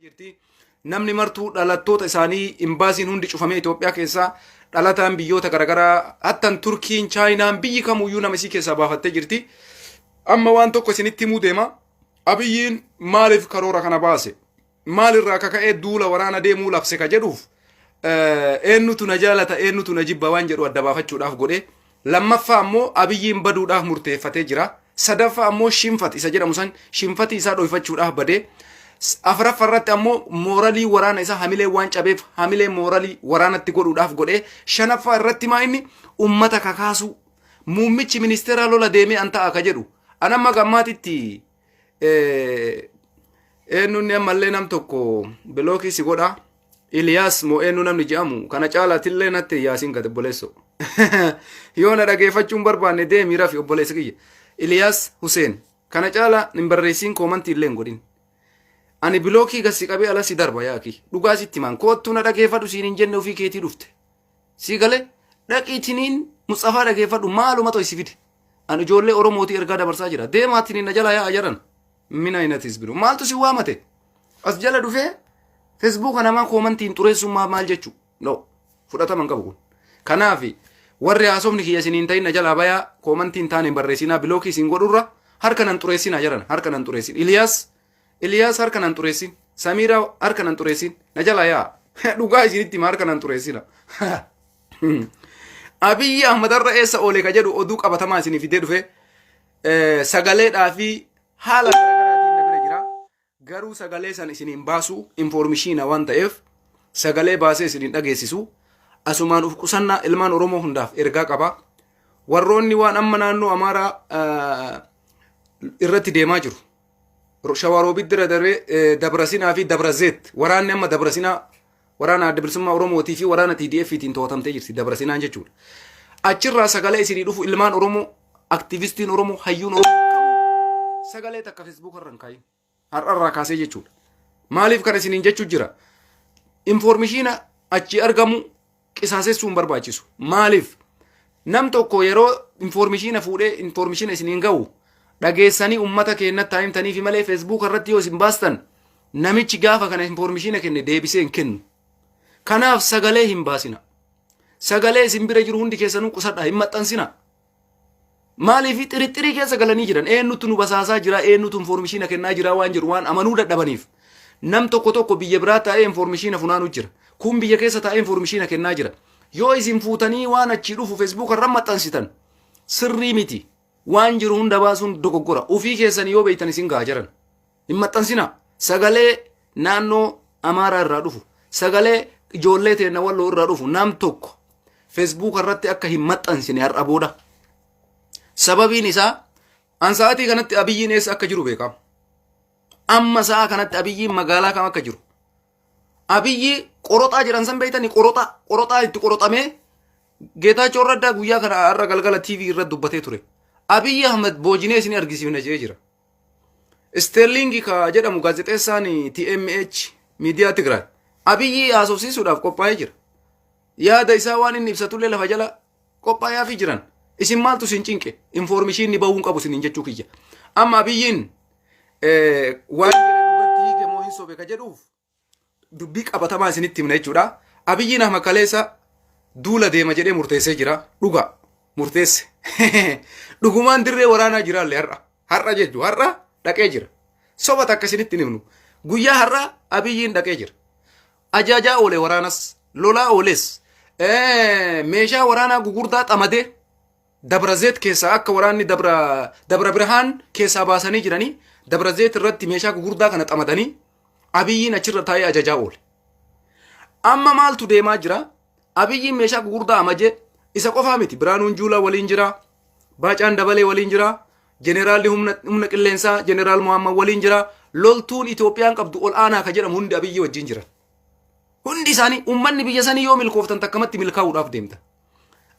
jirti. Namni martuu dhalattoota isaanii imbaasiin hundi cufamee Itoophiyaa keessaa dhalataan biyyoota garaagaraa hattan Turkiin, Chaayinaan biyyi kamuyyuu nama isii keessaa baafattee jirti. Amma waan tokko isinitti himuu deema. Abiyyiin maaliif karoora kana baase? Maalirraa akka ka'ee duula waraana deemuu labse ka jedhuuf eenyutu na jaalata eenyutu na jibba waan jedhu adda baafachuudhaaf godhe. Lammaffaa ammoo Abiyyiin baduudhaaf murteeffatee jira. Sadaffaa ammoo shinfat isa jedhamu san shinfatii isaa dhoyfachuudhaaf badee. Afraffa irratti ammoo mooralii waraana isaa hamilee waan cabeef hamilee mooralii waraanatti godhuudhaaf godhee. Shanaffaa irratti maa inni ummata kakaasuu. Muummichi ministeeraa lola deemee an ta'a ka jedhu. An amma gammaatitti eenyunni ammallee nam tokko bilookii si godha Iliyaas moo eenyu namni jedhamu kana caalaatillee natti yaasiin gad obboleesso yoo na dhageeffachuun barbaanne deemii rafi obboleessa kiyya Iliyaas Huseen kana caalaa hin barreessiin koomantii illee hin godhin ani bilookii gad si qabee ala si darba yaaki dhugaa sitti maan koottuu na dhageeffadhu siin hin jenne ofii keetii dhufte Sii gale dhaqii tiniin Musxafaa dhageeffadhu maaluma toy si fide. An ijoollee Oromootii ergaa dabarsaa jira. Deemaa tiniin na jala yaa'a jaran. Mina inatis biro. Maaltu si waamate? As jala dhufee Feesbuuka namaa koomantiin xureessuun maa- maal jechuu? No. Fudhatama hin qabu kun. Kanaaf warri haasofni kiyya isin hin ta'in na jalaa bayaa koomantiin taane hin barreessinaa bilookii isin godhurra harka nan xureessinaa jaran harka nan xureessin. Iliyaas Iliyaas harka nan xureessin. Samiiraa harka nan xureessin. Na jalaa yaa. Dhugaa isinitti hima harka nan xureessina. Abiyyi Ahmad har'a eessa oole ka jedhu oduu qabatamaa isinii fidee dhufe eh, sagaleedhaa fi haala garaagaraatiin na bira jira. Garuu sagalee san isin hin baasu informishiina waan ta'eef sagalee baasee isin hin dhageessisu. Asumaan uf qusannaa ilmaan Oromoo hundaaf ergaa qaba. Warroonni waan amma naannoo Amaaraa eh, irratti deemaa jiru. Shawaaroobiit bira darbee Dabrasinaa fi Dabrazeet waraanni amma Dabrasinaa waraana adda bilisummaa Oromootii fi waraana TDFtiin to'atamtee jirti Dabrasinaan jechuudha. Achirraa sagalee isinii dhufu ilmaan Oromoo aktiivistiin Oromoo hayyuun Oromoo sagalee takka feesbuuka irra hin kaayin. Har'arraa kaasee jechuudha. Maaliif kan isiniin jechuu jira? Infoormishiina achi argamu qisaasessuu hin barbaachisu. Maaliif? Nam tokko yeroo infoormishiina fuudhee infoormishiina isiniin ga'u dhageessanii ummata keennatti himtaniifi malee feesbuuka irratti yoo isin baastan namichi gaafa kana infoormishiina kenne deebisee hin kennu. Kanaaf sagalee hin baasina. Sagalee isin bira jiru hundi keessanuu qusadhaa hin maxxansina. Maaliif xirixxirii keessa galanii jiran eenyutu nu basaasaa jira eenyutu infoormishiina kennaa jira waan jedhu waan amanuu dadhabaniif nam tokko tokko biyya biraa taa'ee infoormishiina funaanuu jira. Kun biyya keessa taa'ee infoormishiina kennaa jira. Yoo isin fuutanii waan achii dhufu feesbuuka irra maxxansitan sirrii miti. Waan jiru hunda baasuun dogoggora. Ofii keessanii yoo beektan isin gahaa jiran. Hin maxxansinaa. Sagalee naannoo Amaaraa irraa dhufu, sagalee ijoollee teenna walloo irraa dhufu nam tokko Feesbuuka irratti akka hin maxxansine har'a booda. Sababiin isaa an sa'aatii kanatti abiyyiin eessa akka jiru beekama. Amma sa'a kanatti abiyyiin magaalaa kam akka jiru. Abiyyi qoroxaa jedhan san beektanii qoroxaa qoroxaa itti qoroxamee Geetaachoo Raddaa guyyaa kana har'a galgala TV irratti dubbatee ture. Abiyyi Ahmed boojinee isin argisiifna jedhee jira. Isteerliingi ka jedhamu gaazexeessaan TMH miidiyaa Tigraay Abiyyi haasofsiisuudhaaf qophaa'ee jira. Yaada isaa waan inni ibsatullee lafa jala qophaa'aafii jiran. Isin maaltu isin cinqe? Infoormishiinni bahuu hin qabu isiniin jechuu kiyya. Amma Abiyyiin waan jedhe dhugatti hiike moo hin sobe ka jedhuuf dubbii qabatamaa isinitti himna jechuudha. Abiyyiin Ahmad Kaleessa duula deema jedhee murteessee jira. Dhugaa murteesse. Dhugumaan dirree waraanaa jiraalle har'a. Har'a jechuun har'a dhaqee jira. Soba takka isinitti himnu. Guyyaa har'a Abiyyiin dhaqee jira. Ajaajaa oole waraanas, lolaa ooles, meeshaa waraanaa gugurdaa xamadee Dabra Zeet keessaa akka waraanni Dabra Dabra Birhaan keessaa baasanii jiranii Dabra Zeet irratti meeshaa gugurdaa kana xamadanii Abiyyiin achirra taa'ee ajajaa oole. Amma maaltu deemaa jira? Abiyyiin meeshaa gugurdaa amajee isa qofaa miti. Biraanuun Juulaa waliin jira. Baacaan Dabalee waliin jira. Jeneraalli humna, humna qilleensaa Jeneraal Muhammad waliin jira. Loltuun Itoophiyaan qabdu ol aanaa ka jedhamu hundi Abiyyii wajjin jira. Hundi isaanii uummanni biyya sanii yoo milkooftan takkamatti milkaa'uudhaaf deemta.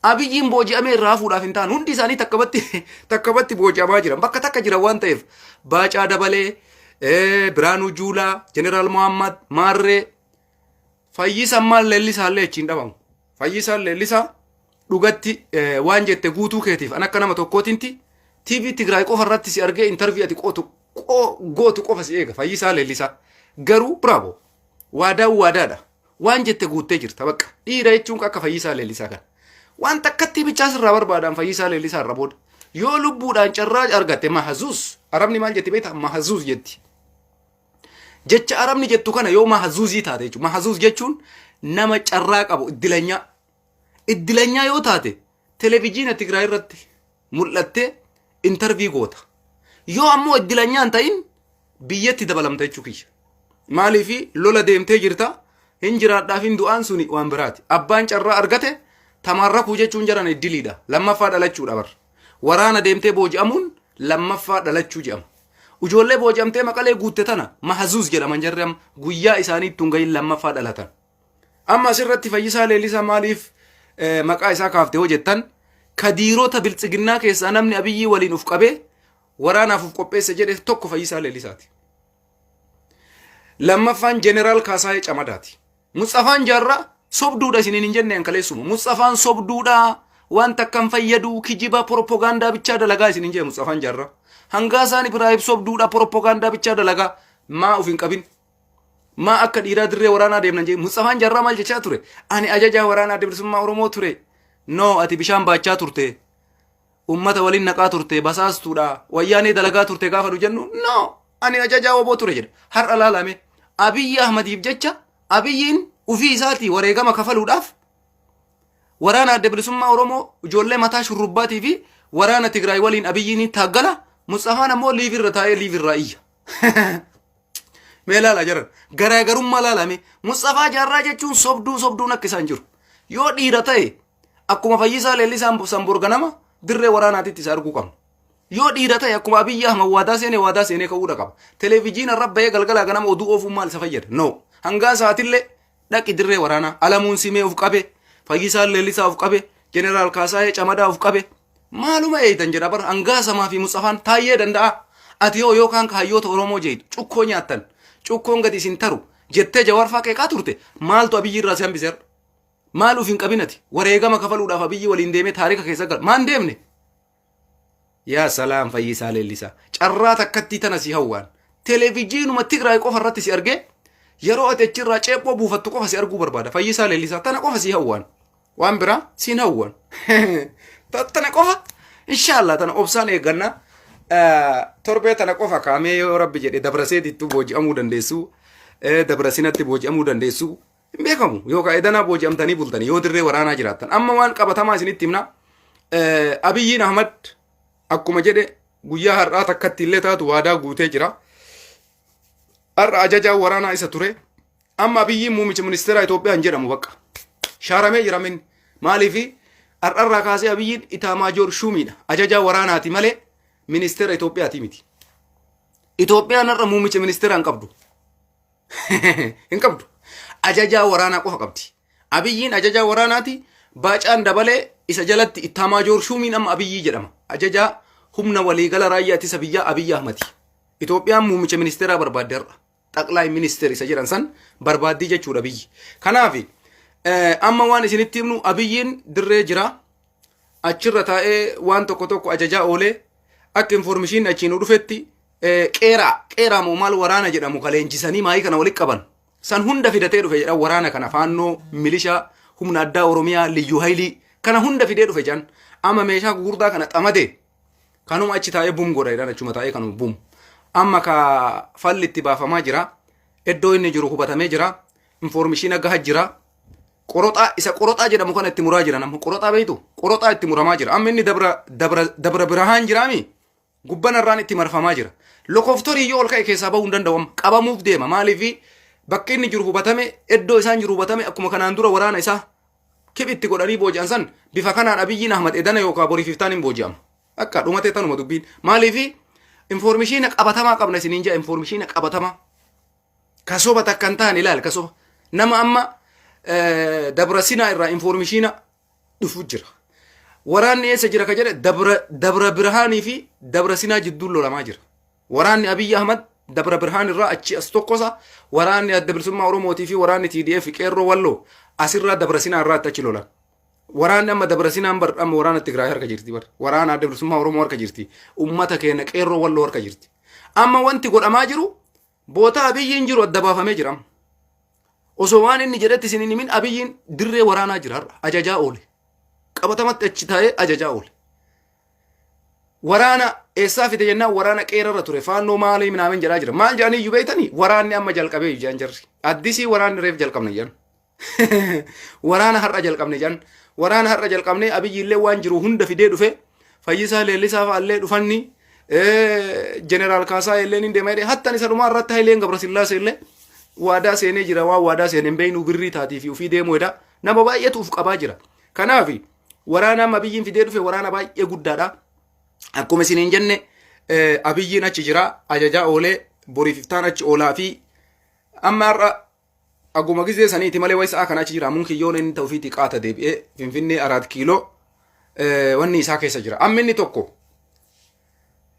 Abiyyiin booji'amee irraa hafuudhaaf hin taane hundi isaanii takkabatti takkabatti booji'amaa jiran bakka takka jiran waan ta'eef Baacaa Dabalee, eh, Biraanuu Juulaa, Jeneraal Mohaammed, Maarree, Fayyisaan maal leellisaa illee achiin dhabamu. Fayyisaan leellisaa dhugatti eh, waan jette guutuu keetiif an akka nama tokkootinti TV Tigraay qofa irratti si argee intarvii ati qootu qoo- gootu qofa si eega Fayyisaan leellisaa garuu bravo. Waadaan waadaadha. Waan jette guuttee jirta bakka. Dhiira jechuun akka fayyisaa leellisaa kana. Waan takkattii bichaa sirraa barbaadaan fayyisaa leellisaa irra booda. Yoo lubbuudhaan carraa argatte mahazuus. Arabni maal jetti beektaa? Mahazuus jetti. Jecha arabni jettu kana yoo mahazuuzii taate jechuudha. Mahazuus jechuun nama carraa qabu iddilanyaa. Iddilanyaa yoo taate televijiina Tigraay irratti mul'attee intarvii goota. Yoo ammoo iddilanyaa hin ta'in biyyatti dabalamta jechuu kiyya. Maaliif lola deemtee jirta hin jiraadhaaf hin du'aan suni waan biraati. Abbaan carraa argate tamaarrakuu jechuun jaran iddiliidha. Lammaffaa dhalachuudha bar. Waraana deemtee booji'amuun lammaffaa dhalachuu jedhama. Ijoollee booji'amtee maqalee guutte tana mahazuus jedhaman jarri amma guyyaa isaanii ittuun gahin lammaffaa dhalatan. Amma asirratti Fayyisaa Leellisaa maaliif eh, maqaa isaa kaafte hoo jettan kadiirota biltsiginnaa keessaa namni abiyyii waliin uf qabee waraanaaf uf qopheesse jedhe tokko Fayyisaa Leellisaati. Lammaffaan Jeneraal Kaasaayee Camadaati. Mutsafaan Jaarraa sobduudha isiniin hin jenne ankaleessuma. Mutsafaan sobduudha waan takka hin fayyadu kijiba poropogaandaa bichaa dalagaa isiniin jenne Mutsafaan Jaarraa. Hangaa isaan Ibraahim sobduudha poropogaandaa bichaa dalagaa maa uf hin qabin Maa akka dhiiraa dirree waraanaa deemnan jee Musxafaan Jarraa maal jechaa ture? Ani ajajaa waraanaa adda bilisummaa Oromoo ture. No ati bishaan baachaa turte. Ummata waliin naqaa turte basaastuudha. Wayyaanee dalagaa turte gaafa nu jennu no ani ajajaa oboo ture jedha. Har'a laalame Abiyyi Ahmadiif jecha Abiyyiin ufii isaatii wareegama kafaluudhaaf waraana adda bilisummaa Oromoo ijoollee mataa shurrubbaatii fi waraana Tigraay waliin Abiyyiin taaggala Musxafaan ammoo liivirra taa'ee liivirraa iyya. Mee laala jaran garaagarummaa laalame Musxafaa Jaarraa jechuun sobduu sobduun akka isaan jiru. Yoo dhiira ta'e akkuma fayyisaa leellisaan sanboor ganama dirree waraanaatitti isa arguu qabna. Yoo dhiira ta'e akkuma Abiyyi Ahmad waadaa seenee waadaa seenee ka'uudha qaba. Televijiina irra bahee galgalaa ganama oduu oofuun maal isa fayyada? No. Hangaa sa'aatillee Dhaqi dirree waraanaa. Alamuun Simee of qabe. Fayyisaan Leellisaa of qabe. Jeneraal Kaasaayee Camadaa of qabe. Maaluma eeytan jedha bar hangaa samaa fi Musxafaan taayyee danda'a. Ati hoo yookaan ka hayyoota Oromoo jeeytu cukkoo nyaattan. Cukkoon gadi isin taru jettee jawaarfaa qeeqaa turte maaltu abiyyi irraa si hambise har'a. Maal of hin qabinati wareegama kafaluudhaaf abiyyi waliin deemee taarika keessa gal maan deemne. Yaa salaam fayyisaa leellisaa. Carraa takkattii tana si hawwaan. Televijiinuma Tigraay qofa irratti si argee yeroo ati achirraa ceephoo buufattu qofa si arguu barbaada. Fayyisaa leellisaa tana qofa si hawwaan. Waan biraa siin hawwan. Tana qofa inshaallah tana obsaan eegganna. Torbee tana qofa kaamee yoo rabbi jedhe dabrasee dittuu booji'amuu dandeessu. Dabra sinatti booji'amuu dandeessu. Hin beekamu yookaan edanaa booji'amtanii bultanii yoo dirree waraanaa jiraattan amma waan qabatamaa isinitti himna Eh, Abiyyiin Ahmad akkuma jedhe guyyaa har'aa takkatti illee taatu waadaa guutee jira. Har'a ajajaa waraanaa isa ture. Amma Abiyyiin muummicha ministeeraa Itoophiyaa hin jedhamu bakka. Shaaramee jira minni. Maaliif har'arraa kaasee Abiyyiin Itaamaajoor Shuumiidha. Ajajaa waraanaati malee ministeera Itoophiyaati miti. Itoophiyaan har'a muummicha ministeeraa hin qabdu. hin qabdu. Ajajaa waraanaa qofa qabdi. Abiyyiin ajajaa waraanaati. Baacaan dabalee isa jalatti ittaamaa joor shuumiin amma abiyyii jedhama. Ajajaa humna waliigala raayyaa ittisa biyyaa abiyyi ahmati. Itoophiyaan muummicha ministeeraa barbaadde har'a. Xaqlaay ministeer isa jedhan san barbaaddii jechuudha biyyi. Kanaaf amma waan isinitti himnu abiyyiin dirree jira. Achirra taa'ee waan tokko tokko ajajaa oolee akka informishiin achiin dhufetti Qeeraa qeeraa moo maal waraana jedhamu ka leenjisanii maayii kana walitti qaban san hunda fidatee dhufe jedhan waraana kana faannoo milishaa humna addaa oromiyaa liyyuu haylii kana hunda fidee dhufe jedhan amma meeshaa gugurdaa kana xamadee kanuma achi taa'ee bum godha jedhan achuma taa'ee kanuma bum amma ka falli itti baafamaa jira iddoo inni jiru hubatamee jira infoormishiina gaha jira qoroxaa isa qoroxaa jedhamu kana itti muraa jiran amma qoroxaa beektu qoroxaa itti muramaa jira amma inni dabra dabra dabra birahaan jiraami Gubban arraan itti marfamaa jira. Lokoftorii yoo ol ka'e keessaa bahuu hin danda'u amma. Qabamuuf deema. Maaliif bakki inni jiru hubatame, iddoo isaan jiru hubatame akkuma kanaan dura waraana isaa kiphitti godhanii booji'an san bifa kanaan Abiyyiin Ahmad edana yookaan boriif iftaan hin booji'ama. Akka dhumatee tanuma dubbiin. Maaliif informishiina qabatamaa qabna isiniin jaa informishiina qabatamaa. Kasoba takka hin taane ilaal kasoba. Nama amma eh, dabrasinaa irraa informishiina dhufu jira. Waraanni eessa jira ka jedhe dabra, dabra birhaanii fi dabra sinaa jidduun lolamaa jira. Waraanni Abiyyi Ahmad dabra birhaan irraa achi as tokkosa waraanni adda bilisummaa Oromootii fi waraanni TDF qeerroo walloo asirraa dabra sinaa irraatti achi lolan. Waraanni amma dabra sinaan bar amma waraana Tigraay harka jirti bar waraana adda bilisummaa Oromoo harka jirti ummata keenya qeerroo walloo harka jirti. Amma wanti godhamaa jiru Bootaa Abiyyiin jiru adda baafamee jira. Osoo waan inni jedhetti isin hin himin Abiyyiin dirree waraanaa jira har'a. Ajajaa oole. Qabatamatti achi taa'ee ajajaa oole. Waraana eessaa fide jennaan waraana qeerarra ture. Faannoo maalii minaamin jedhaa jira. Maal jedhanii iyyuu beektanii? Waraanni amma jalqabee iyyaan jarri. Addisii waraanni reef jalqabna iyyaan. waraana har'a jalqabne jedhan waraana har'a jalqabne abiyyi illee waan jiru hunda fidee dhufe fayyisaa leellisaa fa'allee dhufanni jeneraal kaasaa illee ni deema jedhe hattan isa dhumaa irratti hayileen gabrasillaasee illee waadaa seenee jira waan waadaa seeneen beeynu birrii taatii fi ofii deemuu jedha nama baay'eetu uf qabaa jira kanaaf waraana amma abiyyiin fidee dhufe waraana baay'ee guddaadha akkuma isiniin jenne abiyyiin achi jira ajajaa oolee boriif iftaan achi oolaa fi amma har'a Aguma gizee saniiti malee wayi sa'a kana achi jira. Ammuun kiyyoon inni ta'uu fi xiqaata deebi'ee Finfinnee Araat Kiiloo wanni isaa keessa jira. Amma inni tokko.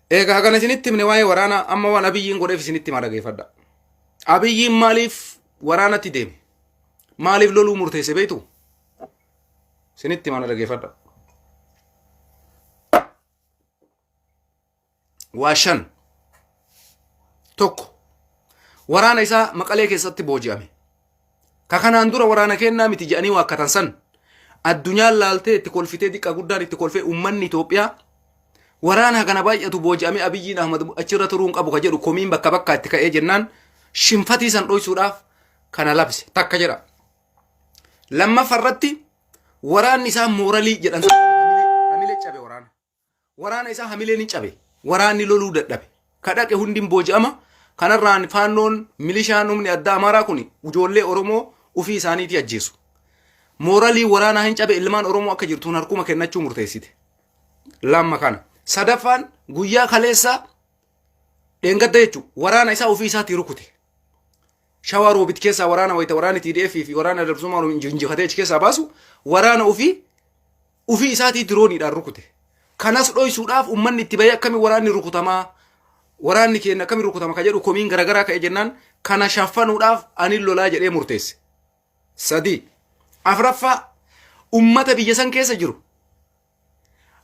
Egaa hagana isinitti himne waa'ee waraanaa amma waan abiyyiin godheef isinitti himaa dhageeffadha. Abiyyiin maaliif waraanatti deeme? Maaliif loluu murteesse beektu? Isinitti himaa dhageeffadha. waa shan tokko waraana isaa maqalee keessatti booji'ame ka kanaan dura waraana kennaa miti jedhanii waakkatan san addunyaan laaltee itti kolfitee xiqqaa guddaan itti kolfee uummanni Itoophiyaa waraana kana baay'atu booji'amee Abiyyiin Ahmad achirra turuu hin qabu ka jedhu komiin bakka bakkaa itti ka'ee jennaan shinfatii san dhoysuudhaaf kana labse takka jedha. Lammaffa irratti waraanni isaa mooralii jedhan hamilee cabe waraana. Waraana isaa hamileen hin cabe. Waraanni loluu dadhabe. Ka dhaqe hundi hin booji'ama. Kanarraan faannoon milishaan humni addaa Amaaraa kun ijoollee Oromoo ufii isaaniitii ajjeesu. Mooralii waraanaa hin cabe ilmaan Oromoo akka jirtuun harkuma kennachuu murteessite. Lamma kana. Sadaffaan guyyaa kaleessaa dheengadda jechuun waraana isaa ofii isaatii rukute. Shawaa roobit keessaa waraana wayita waraanni TDF fi waraana dabsummaa injifatee achi keessaa baasu waraana ofii Ufii isaatii dirooniidhaan rukute. Kanas dhoysuudhaaf ummanni itti bahee akkamiin waraanni rukutamaa waraanni keenya akkamiin rukutama ka jedhu komiin garaagaraa ka'e jennaan kana shaffanuudhaaf ani lolaa jedhee murteesse. Sadii. Afraffaa ummata biyya san keessa jiru.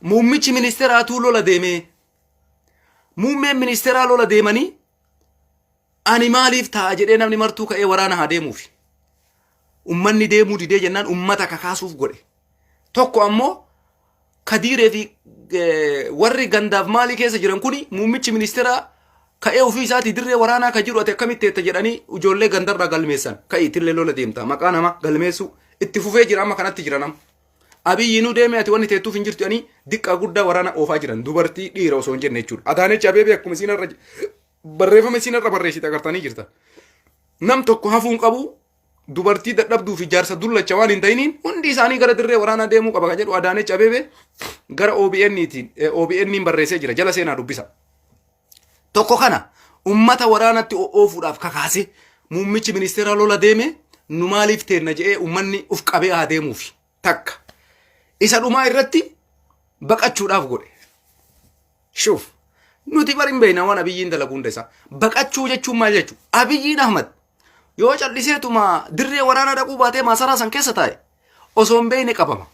Muummichi ministeeraatuu lola deemee. Muummeen ministeeraa lola deemanii Ani maaliif ta'a jedhee namni martuu ka'ee waraana haa deemuufi. Ummanni deemuu didee jennaan ummata kakaasuuf godhe. Tokko ammoo kadiiree fi eh, warri gandaaf maalii keessa jiran kuni muummichi ministeeraa ka'ee ofii isaatii dirree waraanaa ka jiru ati akkamitti eetta jedhanii ijoollee gandarraa galmeessan ka'ii tillee lola deemta maqaa nama galmeessuu itti fufee jira amma kanatti jira nama. Abiyyi nu deemee ati wanni teettuuf hin jirtu jedhanii diqqaa guddaa waraana oofaa jiran dubartii dhiira osoo hin jenne jechuudha. Adaanechi Abeebee akkuma isiin irra Barreeffama isiin har'a barreessite agartanii jirtan. Nam tokko hafuu hin qabu dubartii dadhabduu fi jaarsa dullacha waan hin ta'iniin hundi isaanii gara dirree waraanaa deemuu qaba kan jedhu Adaanech Abeebee gara OBN tiin OBN barreessee jira jala seenaa dubbisa. Tokko kana ummata waraanatti oofuudhaaf kakaase muummichi ministeeraa lola deeme nu maaliif teenna jedhee ummanni uf qabee haa deemuufi. takka isa dhumaa irratti baqachuudhaaf godhe shuuf nuti bar hin beekna waan abiyyiin dalagu hunda isaa baqachuu jechuun maal jechuu abiyyiin ahmad yoo calliseetuma dirree waraanaa dhaquu baatee maasaraa san keessa taa'e osoo hin beekne qabama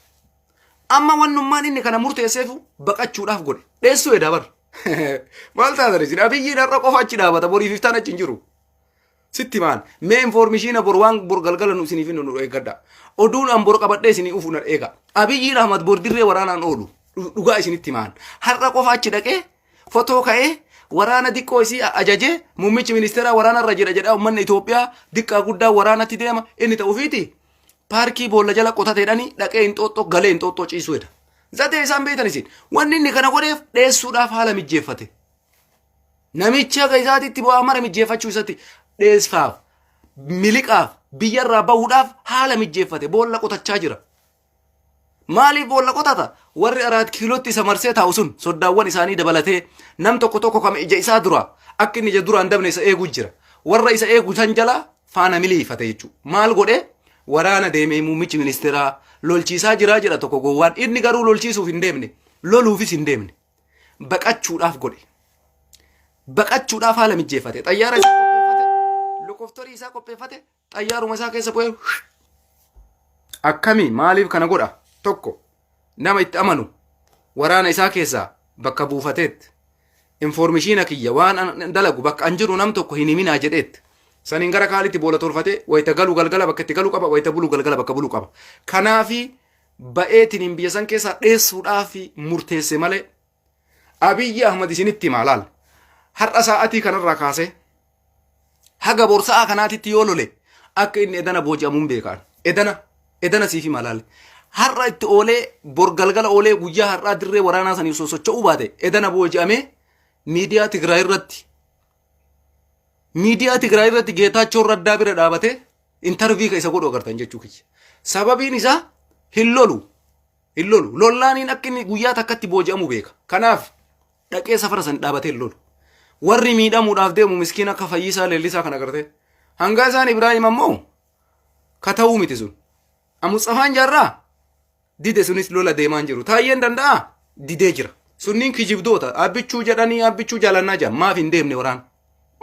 amma wannummaan inni kana murteesseefu baqachuudhaaf godhe dheessuu edaa bar maal taatan isin abiyyiin har'a qofa achi dhaabata boriif iftaan achi hin jiru Sitti himaan. Mee informishiina bor waan bor galgala nu isiniif nu eeggadha. Oduun an bor qabadhee isinii ufu na eega. Abiyyiin Ahmad bor dirree waraanaan oolu. Dhu- Dhugaa isinitti himaan. Har'a qofa achi dhaqee fotoo ka'ee waraana diqqoo isii a- ajajee muummichi ministeeraa waraana irra jira jedhaa uummanni Itoophiyaa diqqaa guddaa waraanatti deema inni ta'u ofiiti. Paarkii boolla jala qotateedhani dhaqee hinxooxxoo galee hinxooxxoo ciisuu jedha. Zatee isaan beektan isin. Wanni inni kana godheef dheessuudhaaf haala mijjeeffate. Namicha akka isaatitti bu'aa mara mijjeeffachuu isatti dheessaaf, miliqaaf, biyyarraa bahuudhaaf haala mijjeeffate boolla qotachaa jira. Maaliif boolla qotata? Warri araat kiilootti isa marsee taa'u sun soddaawwan isaanii dabalatee nam tokko tokko kama ija isaa dura akka inni ija duraan dabne isa eeguu jira. Warra isa eegu san jala faana miliifate jechuudha. Maal godhee? Waraana deemee muummichi ministeeraa lolchiisaa jiraa jedha tokko gowwaan. Inni garuu lolchiisuuf hin deemne. Loluufis hin deemne. baqachuudhaaf godhe. Baqachuudhaaf haala mijjeeffate. Xayyaara isaa qopheeffate, lokoftorii isaa qopheeffate, xayyaaruma isaa keessa bu'ee akkami maaliif kana godha? Tokko nama itti amanu waraana isaa keessaa bakka buufateetti. Informishiina kiyya waan an dalagu bakka an jiru nam tokko hin himinaa jedheetti. Saniin gara kaalitti boola tolfatee wayita galu galgala bakka itti galu qaba, wayita bulu galgala bakka bulu qaba. Kanaafi ba'eetiniin biyya san keessaa dheessuudhaaf murteesse malee Abiyyi Ahmad isinitti himaa laal har'a sa'aatii kanarraa kaasee haga bor sa'aa kanaatitti yoo lole akka inni edana booji'amuun beekaan edana edana siif himaa laal har'a itti oolee bor galgala oolee guyyaa har'aa dirree waraanaa saniif sosocho'uu baate edana booji'amee miidiyaa Tigraay irratti Miidiyaa Tigraay irratti Geetaachoo Raddaa bira dhaabatee intarvii ka isa godhu agartan jechuu kiyya. Sababiin isaa hin lolu. Hin lolu. Lollaaniin akka inni guyyaa takkatti booji'amu beeka. Kanaaf dhaqee safara san dhaabatee hin lolu. Warri miidhamuudhaaf deemu miskiin akka fayyisaa leellisaa kan agartee. Hangaa isaan Ibraahim ammoo ka ta'uu miti sun. Amutsafaan jaarraa dide sunis lola deemaan jiru taayyeen danda'a didee jira sunniin kijibdoota abbichuu jedhanii abbichuu jaalannaa jedhan maaf hin deemne waraan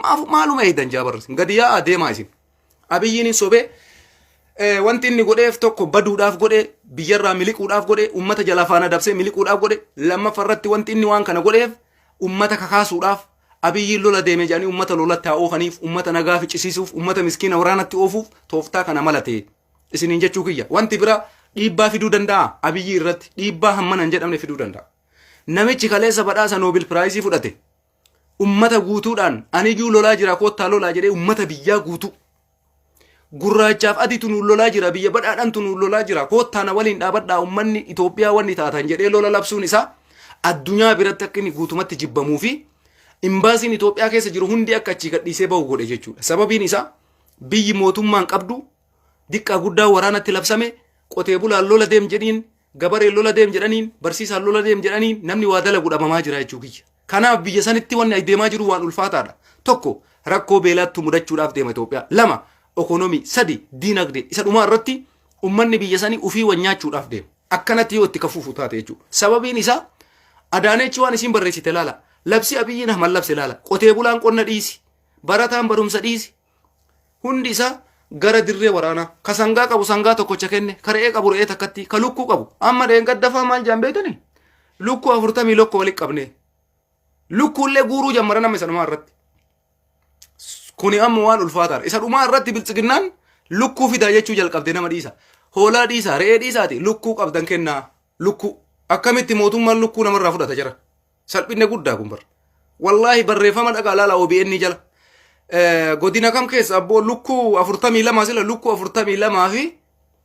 maaf maaluma eedan jaabarras gadi yaa'aa deemaa isin abiyyiin hin sobee eh, wanti inni godheef tokko baduudhaaf godhe biyyarraa miliquudhaaf godhe ummata jalaa faana dabsee miliquudhaaf godhe lammaffa irratti wanti inni waan kana godheef ummata kakaasuudhaaf abiyyiin lola deeme jedhanii ummata lolatti haa oofaniif ummata nagaa ficcisiisuuf ummata miskiina waraanatti oofuuf tooftaa kana malatee isiniin jechuu kiyya wanti bira dhiibbaa fiduu danda'a abiyyii irratti dhiibbaa hammana hin jedhamne fiduu danda'a namichi kaleessa badhaasa noobil piraayisii fudhate ummata guutuudhaan aniyyuu lolaa jira koottaa lolaa jedhee ummata biyyaa guutuu gurraachaaf adiitu nuun lolaa jira biyya badhaadhantu nuun lolaa jira koottaa na waliin dhaabadhaa ummanni Itoophiyaa wanni taatan jedhee lola labsuun isaa addunyaa biratti akka inni guutumatti jibbamuu fi imbaasiin Itoophiyaa keessa jiru hundi akka achii gadhiisee bahu godhe jechuudha sababiin isaa Biyyi mootummaan qabdu diqqaa guddaa waraanatti labsame qotee bulaan lola deem jedhiin gabareen lola deem jedhaniin barsiisaan lola deem jedhaniin namni waa dalagu dhabamaa jira jechuu kiyya. Kanaaf biyya sanitti wanni ay deemaa jiru waan ulfaataadha. Tokko rakkoo beelaattu mudachuudhaaf deema Itoophiyaa. Lama ekonomii. Sadi diinagdee. Isa dhumaa irratti ummanni biyya sanii ufii wan nyaachuudhaaf deema. Akkanatti yoo itti kafuufu taate jechuudha. Sababiin isaa Adaanechi waan isiin barreessite laala. Labsi Abiyyiin Ahmad labse laala. Qotee bulaan qonna dhiisi. Barataan barumsa dhiisi. Hundi isaa gara dirree waraanaa. Ka sangaa qabu sangaa tokkocha kenne, ka re'ee qabu re'ee takkatti, ka lukkuu qabu. Amma dheengaddafaa maal jaan beektanii? Lukkuu afurtamii lokko walitti qabnee. Lukkuullee guuruu jammara nama isa dhumaa irratti. Kuni amma waan ulfaataadha. Isa dhumaa irratti biltsiginnaan lukkuu fidaa jechuu jalqabde nama dhiisa. Hoolaa dhiisa, re'ee dhiisaati lukkuu qabdan kennaa. Lukkuu. Akkamitti mootummaan lukkuu namarraa fudhata jira? Salphinna guddaa kun bar. Wallaahi barreeffama dhagaa laala OBN jala. Eh, Godina kam keessa abboo lukkuu afurtamii lama sila lukkuu afurtamii lamaa fi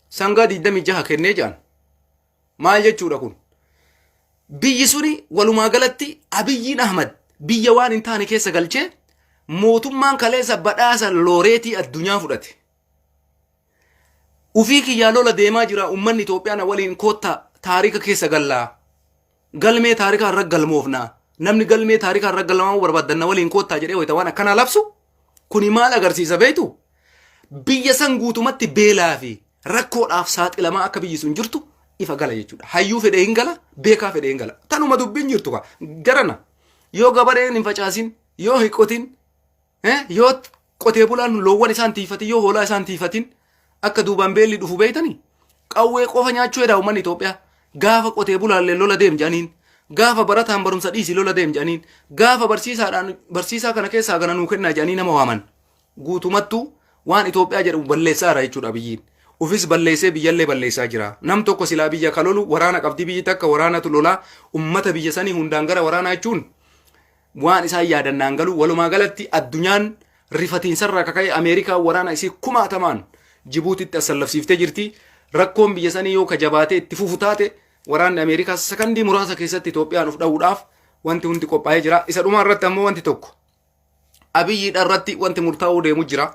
sangaa digdamii jaha kennee jedhan. Maal jechuudha kun? Biyyi suni walumaa galatti Abiyyiin Ahmad biyya waan hin taane keessa galchee mootummaan kaleessa badhaasa looreetii addunyaa fudhate. Ufii kiyyaa lola deemaa jira uummanni Itoophiyaa na waliin koottaa taarika keessa gallaa. galmee taarikaa irra galmoofnaa namni galmee taarikaa irra galmaa'uu barbaaddan na waliin koottaa jedhee wayita waan akkanaa labsu kuni maal agarsiisa beektu biyya san guutumatti beelaa fi rakkoodhaaf saaxilamaa akka biyyi sun jirtu ifa gala jechuudha hayyuu fedhee hin gala beekaa fedhee hin gala tanuma dubbiin jirtu kaa jarana yoo gabareen hin facaasin yoo hin qotin Eh, yoo qotee bulaan loowwan isaan tiifatin yoo hoolaa isaan tiifatin akka duubaan beelli dhufu beeytanii qawwee qofa nyaachuu hedaa uummanni Itoophiyaa gaafa qotee bulaallee lola deem jedhaniin gaafa barataan barumsa dhiisii lola deem jedhaniin gaafa barsiisaadhaan barsiisaa kana keessaa kana nuu kennaa jedhanii nama waaman guutumattuu waan Itoophiyaa jedhamu balleessaa jira jechuudha biyyiin. Ufis balleessee biyyallee balleessaa jira. Nam tokko silaa biyya kalolu waraana qabdi biyyi takka waraanatu lolaa ummata biyya sanii hundaan gara waraanaa jechuun Waan isaan yaadan naan galu walumaa galatti addunyaan rifatiinsarraa akka ka'e Ameerikaan waraana isii kumaatamaan Jibuutitti assallafsiiftee jirti. Rakkoon biyya sanii yoo ka jabaatee itti fufu taate waraanni Ameerikaa sakandii muraasa keessatti Itoophiyaan of dha'uudhaaf wanti hundi qophaa'ee jira. Isa dhumaa irratti ammoo wanti tokko Abiyyiidha irratti wanti murtaa'uu deemu jira.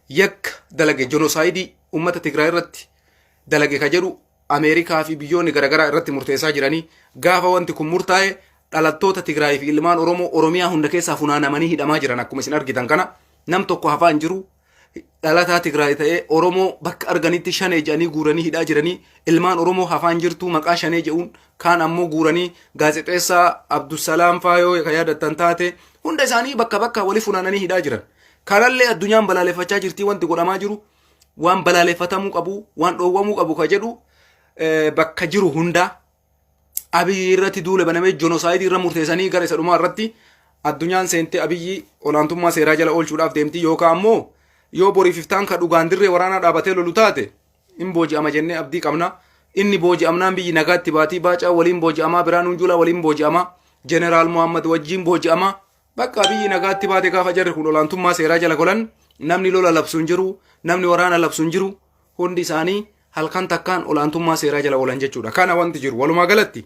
yakka dalage jenosaayidii uummata Tigraay irratti dalage ka jedhu Ameerikaa fi biyyoonni garaagaraa irratti murteessaa jiranii gaafa wanti kun murtaa'e dhalattoota Tigraay fi ilmaan Oromoo Oromiyaa hunda keessaa funaanamanii hidhamaa jiran akkuma isin argitan kana nam tokko hafaa hin jiru dhalataa Tigraay ta'ee Oromoo bakka arganitti shanee jedhanii guuranii hidhaa jiranii ilmaan Oromoo hafaa hin jirtu maqaa shanee jedhuun kaan ammoo guuranii gaazexeessaa Abdusalaam Faayoo ka yaadattan taate hunda isaanii bakka bakka wali funaananii hidhaa jiran. Kanallee addunyaan balaaleffachaa jirtii wanti godhamaa jiru waan balaaleffatamuu qabu waan dhoowwamuu qabu ka jedhu eh, bakka jiru hundaa abiyyi irratti duula banamee jonosaayidii irra murteessanii gara isa dhumaa irratti addunyaan seentee abiyyi olaantummaa seeraa jala oolchuudhaaf deemti yookaan ammoo yoo boriif iftaan ka dhugaan dirree waraanaa dhaabatee lolu taate in booji'ama jennee abdii qabna inni booji'amnaan biyyi nagaatti baatii baacaa waliin booji'amaa biraanuun juulaa waliin booji'amaa jeneraal mohammad wajjiin booji'amaa Bakka biyyi nagaatti baate gaafa jarri kun olaantummaa seeraa jala golan namni lola labsu hin jiru, namni waraana labsu hin jiru, hundi isaanii halkan takkaan olaantummaa seeraa jala oolan jechuudha. Kana wanti jiru walumaa galatti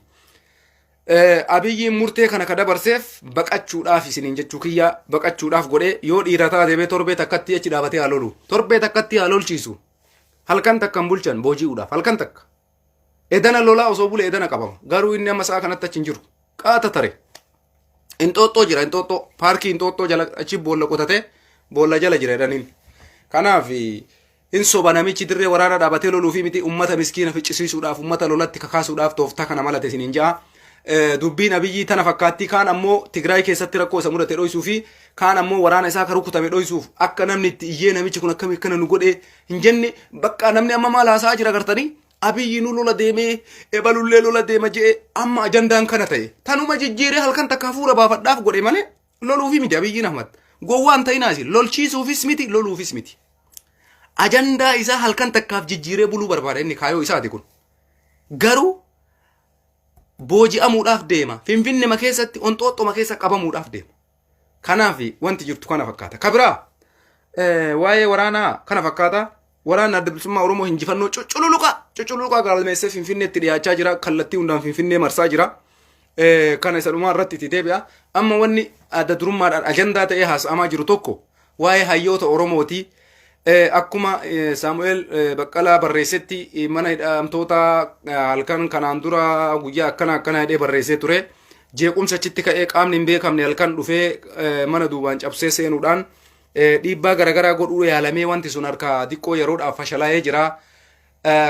abiyyiin murtee kana ka dabarseef baqachuudhaaf isiniin jechuu kiyya baqachuudhaaf godhee yoo dhiira taate bee torbee takkatti achi dhaabatee haa lolu. Torbee takkatti haa lolchiisu. Halkan takkan bulchan booji'uudhaaf halkan takka. Edana lolaa osoo bule edana qabama. Garuu inni amma sa'a kanatti achi hin jiru. Qaata tare. Inxooxxoo jira inxooxxoo. Paarkii inxooxxoo jala achi boolla qotatee boolla jala jira edaniin. Kanaaf hin soba namichi dirree waraana dhaabatee loluu fi miti ummata miskiina ficcisiisuudhaaf ummata lolatti kakaasuudhaaf tooftaa kana malate isin hin ja'a. Dubbiin abiyyii tana fakkaattii kaan ammoo Tigraay keessatti rakkoo isa mudate dhoysuu fi kaan ammoo waraana isaa akka rukutame dhoysuuf akka namni itti iyyee namichi kun akkami akkana nu godhee hin jenne bakka namni amma maal haasa'aa jira gartanii abiyyinuu lola deemee ebalullee lola deema je'e amma ajandaan kana ta'e tanuma jijjiiree halkan takka hafuura baafadhaaf godhe malee loluufi miti abiyyiin ahmad gowwaan ta'inaa isin lolchiisuufis miti loluufis miti ajandaa isaa halkan takkaaf jijjiiree buluu barbaada inni kaayoo isaati kun garuu booji'amuudhaaf deema finfinnema keessatti onxooxxoma keessa qabamuudhaaf deema Kanaaf wanti jirtu kana fakkaata. Ka biraa waa'ee waraanaa kana fakkaata. Waraanni adda bilisummaa Oromoo injifannoo cucculuqaa cucculuqaa galmeessee Finfinneetti dhiyaachaa jira. Kallattii hundaan Finfinnee marsaa jira. Kana isa dhumaa irratti itti deebi'a. Amma wanni adda durummaadhaan ajandaa ta'ee haasa'amaa jiru tokko Waa'ee hayyoota Oromooti. Akkuma Saamu'eel Baqqalaa barreessetti mana hidhamtoota halkan kanaan dura guyyaa akkana akkana jedhee barreessee ture. Jeequmsa achitti ka'ee qaamni hin beekamne halkan dhufee mana duubaan cabsee seenuudhaan dhiibbaa garaagaraa godhuu yaalamee wanti sun harka diqqoo yeroodhaaf fashalaa'ee jira.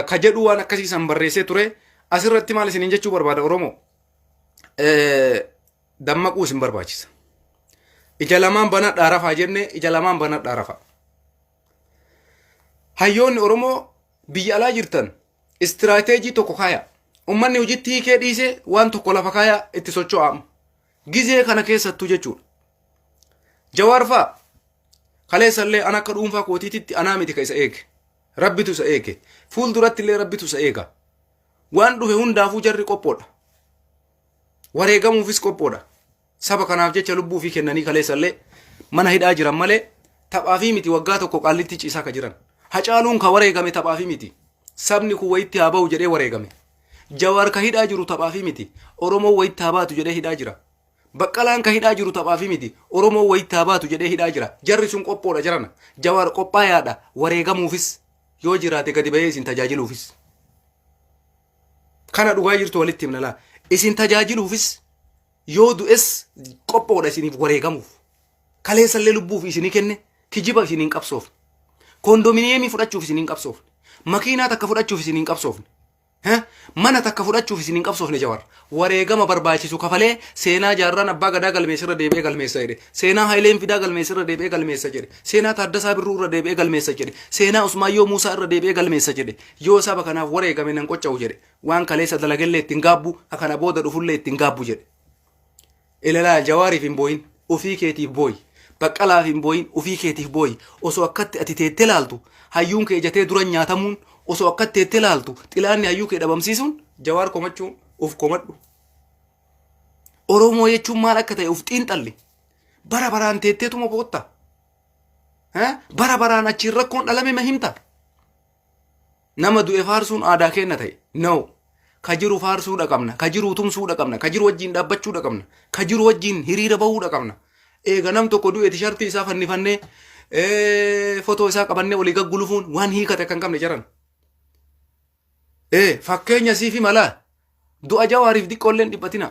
Ka jedhu waan akkasii san barreessee ture. Asirratti maal isiniin jechuu barbaada Oromoo? dammaquu isin barbaachisa. Ija lamaan banadhaa rafaa jennee ija lamaan banadhaa rafaa. Hayyoonni Oromoo biyya alaa jirtan istiraateejii tokko kaayaa. Uummanni hojiitti hiikee dhiisee waan tokko lafa kaayaa itti socho'aama. Gizee kana keessattuu jechuudha. Jawaar fa'a kaleessallee an akka dhuunfaa kootiititti anaa miti ka isa eege. Rabbitu isa eege. Fuulduratti illee rabbitu isa eega. Waan dhufe hundaafuu jarri qophoodha. Wareegamuufis qophoodha. Saba kanaaf jecha lubbuu ofii kennanii kaleessallee mana hidhaa jiran malee taphaafii miti waggaa tokko qaallitti ciisaa ka jiran. Hacaaluun ka wareegame taphaafii miti. Sabni kun wayitti haa bahu jedhee wareegame. Jawaar ka hidhaa jiru taphaafii miti. Oromoo wayitti haa baatu jedhee hidhaa jira. Baqqalaan ka hidhaa jiru taphaafii miti. Oromoo wayitti haa baatu jedhee hidhaa jira. Jarri sun qophoodha jarana. Jawaar qophaayaadha wareegamuufis yoo jiraate gadi bahee isin tajaajiluufis. Kana dhugaa jirtu walitti himna laa. Isin tajaajiluufis yoo du'es qophoodha isiniif wareegamuuf. Kaleessallee lubbuuf isinii kenne kijiba isin hin qabsoofne. Kondominiyeemii fudhachuuf isin hin qabsoofne. Makiinaa takka fudhachuuf isin hin qabsoofne. Eh, Mana takka fudhachuuf isin hin qabsoofne jawar. Wareegama barbaachisu kafalee seenaa jaarraan abbaa gadaa galmeessa irra deebi'ee galmeessa jedhe. Seenaa Hayileen Fidaa galmeessa irra deebi'ee galmeessa jedhe. Seenaa Taaddasaa Birruu irra deebi'ee galmeessa jedhe. Seenaa Usmaayyoo Muusaa irra deebi'ee galmeessa jedhe. Yoo saba kanaaf wareegame nan qocca'u jedhe. Waan kaleessa dalagellee itti hin gaabbu, ka kana booda dhufullee itti hin gaabbu jedhe. Ilalaa Jawaariif hin booyin, ofii keetiif booyi. Baqqalaaf hin booyin, ofii keetiif booyi. Osoo akkatti ati teettee laaltu, hayyuun kee ijatee duran nyaatamuun, osoo akkatti teettee laaltu, xilaanni hayyuu kee dhabamsiisuun, Jawaar komachuu of komadhu. Oromoo jechuun maal akka ta'e of xiinxalli. Bara baraan teetteetuma bootta. Eh? Bara baraan achiin rakkoon dhalame ma himta. Nama du'e faarsuun aadaa keenna ta'e. No. Ka jiru faarsuudha qabna. Ka jiru tumsuudha qabna. Ka jiru wajjin dhaabbachuudha qabna. Ka jiru wajjin hiriira bahuudha qabna. Eega nam tokko du'e tishartii isaa fannifannee ee, fotoo isaa qabannee olii gaggulufuun waan hiikate kan qabne jaran. Ee, fakkeenya siifi malaa. Du'a jawaariif diqqoolleen dhiphatina.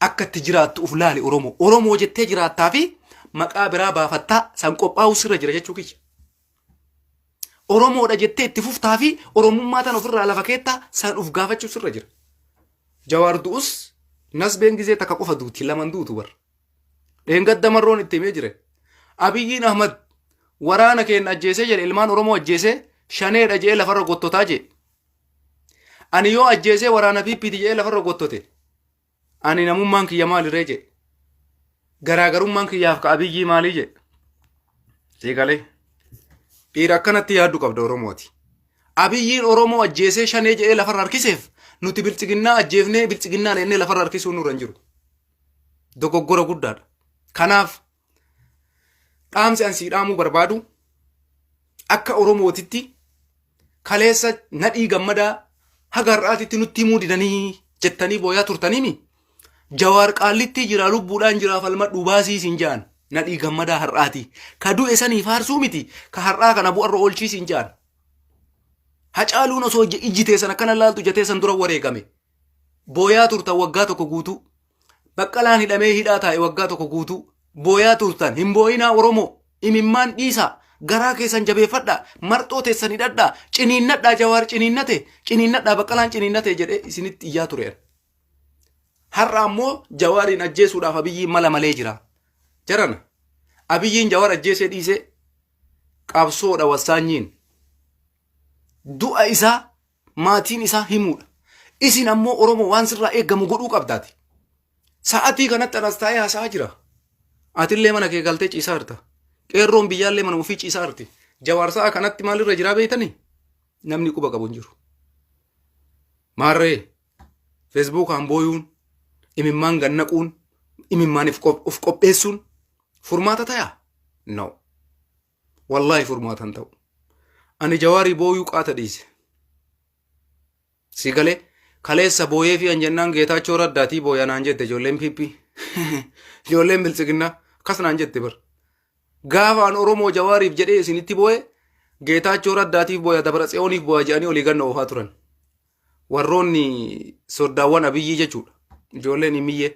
Akka itti jiraattu uf laali Oromoo. Oromoo jettee jiraattaa fi maqaa biraa baafattaa san qophaa'uu sirra jira jechuu kiyya. Oromoodha jettee itti fuftaa fi Oromummaa tan ofirraa lafa keettaa san uf gaafachuu sirra jira. Jawaar du'us nasbeen gizee takka qofa duuti laman duutu bar. Dheengadda marroon itti himee jire. Abiyyiin Ahmad waraana keenya ajjeesee jedhe ilmaan Oromoo ajjeesee shaneedha jedhee lafarra gottotaa jedhe. Ani yoo ajjeesee waraana PPti jedhee lafarra gottote. Ani namummaan kiyya maaliree jedhe. Garaagarummaan kiyyaaf ka abiyyii maalii jedhe. Seegalee. Dhiira akkanatti yaaddu qabda Oromooti. Abiyyiin Oromoo ajjeesee shanee jedhee lafarra harkiseef nuti biltsiginnaa ajjeefnee biltsiginnaa leennee lafarra harkisuu nurra hin jiru. Dogoggora guddaadha. Kanaaf Dhaamsi an sii dhaamuu barbaadu akka Oromootitti kaleessa nadhii gammadaa haga har'aatitti nutti himuu didanii jettanii booyaa turtaniimi. Jawaar qaallittii jira lubbuudhaan jira falmadhuu baasii siin ja'an nadhii gammadaa har'aati. Ka du'e sanii faarsuu miti ka har'aa kana bu'arra oolchii siin ja'an. Hacaaluun osoo ijji teessan akkana laaltu ija teessan dura wareegame. Booyaa turtan waggaa tokko guutuu. Baqqalaan hidhamee hidhaa taa'e waggaa tokko guutuu booyaa turtan hin boo'inaa Oromoo imimmaan dhiisaa garaa keessan jabeeffadhaa marxoo teessan hidhadhaa ciniinnadhaa jawaar ciniinnate ciniinnadhaa baqqalaan ciniinnate jedhee isinitti iyyaa tureera. Har'a ammoo jawaariin ajjeesuudhaaf abiyyiin mala malee jira. Jarana abiyyiin jawaar ajjeesee dhiisee qabsoodha wassaanyiin du'a isaa maatiin isaa himuudha. Isin ammoo Oromoo waan sirraa eegamu godhuu qabdaati. Sa'atii kanatti anas taa'ee haasa'aa jira. Atillee mana kee galtee ciisaa jirta. Qeerroon biyyaallee mana ofii ciisaa jirti. Jawaar sa'a kanatti maalirra jiraa beektanii? Namni quba qabu hin jiru. Maarree feesbuukaan booyuun, imimmaan gannaquun, imimmaaniif of qopheessuun furmaata tayaa? No. Wallaahi furmaata hin ta'u. Ani jawaarii booyuu qaata dhiise. Si galee kaleessa booyee fi anjennaan geetaachoo raddaatii booya naan jette ijoolleen PP. Ijoolleen biltsiginnaa akkas naan jette bar. Gaafa an Oromoo jawaariif jedhee isinitti booye geetaachoo raddaatiif booya dabra tseyooniif booya jedhanii olii ganna oofaa turan. Warroonni soddaawwan abiyyii jechuudha. Ijoolleen himiyyee.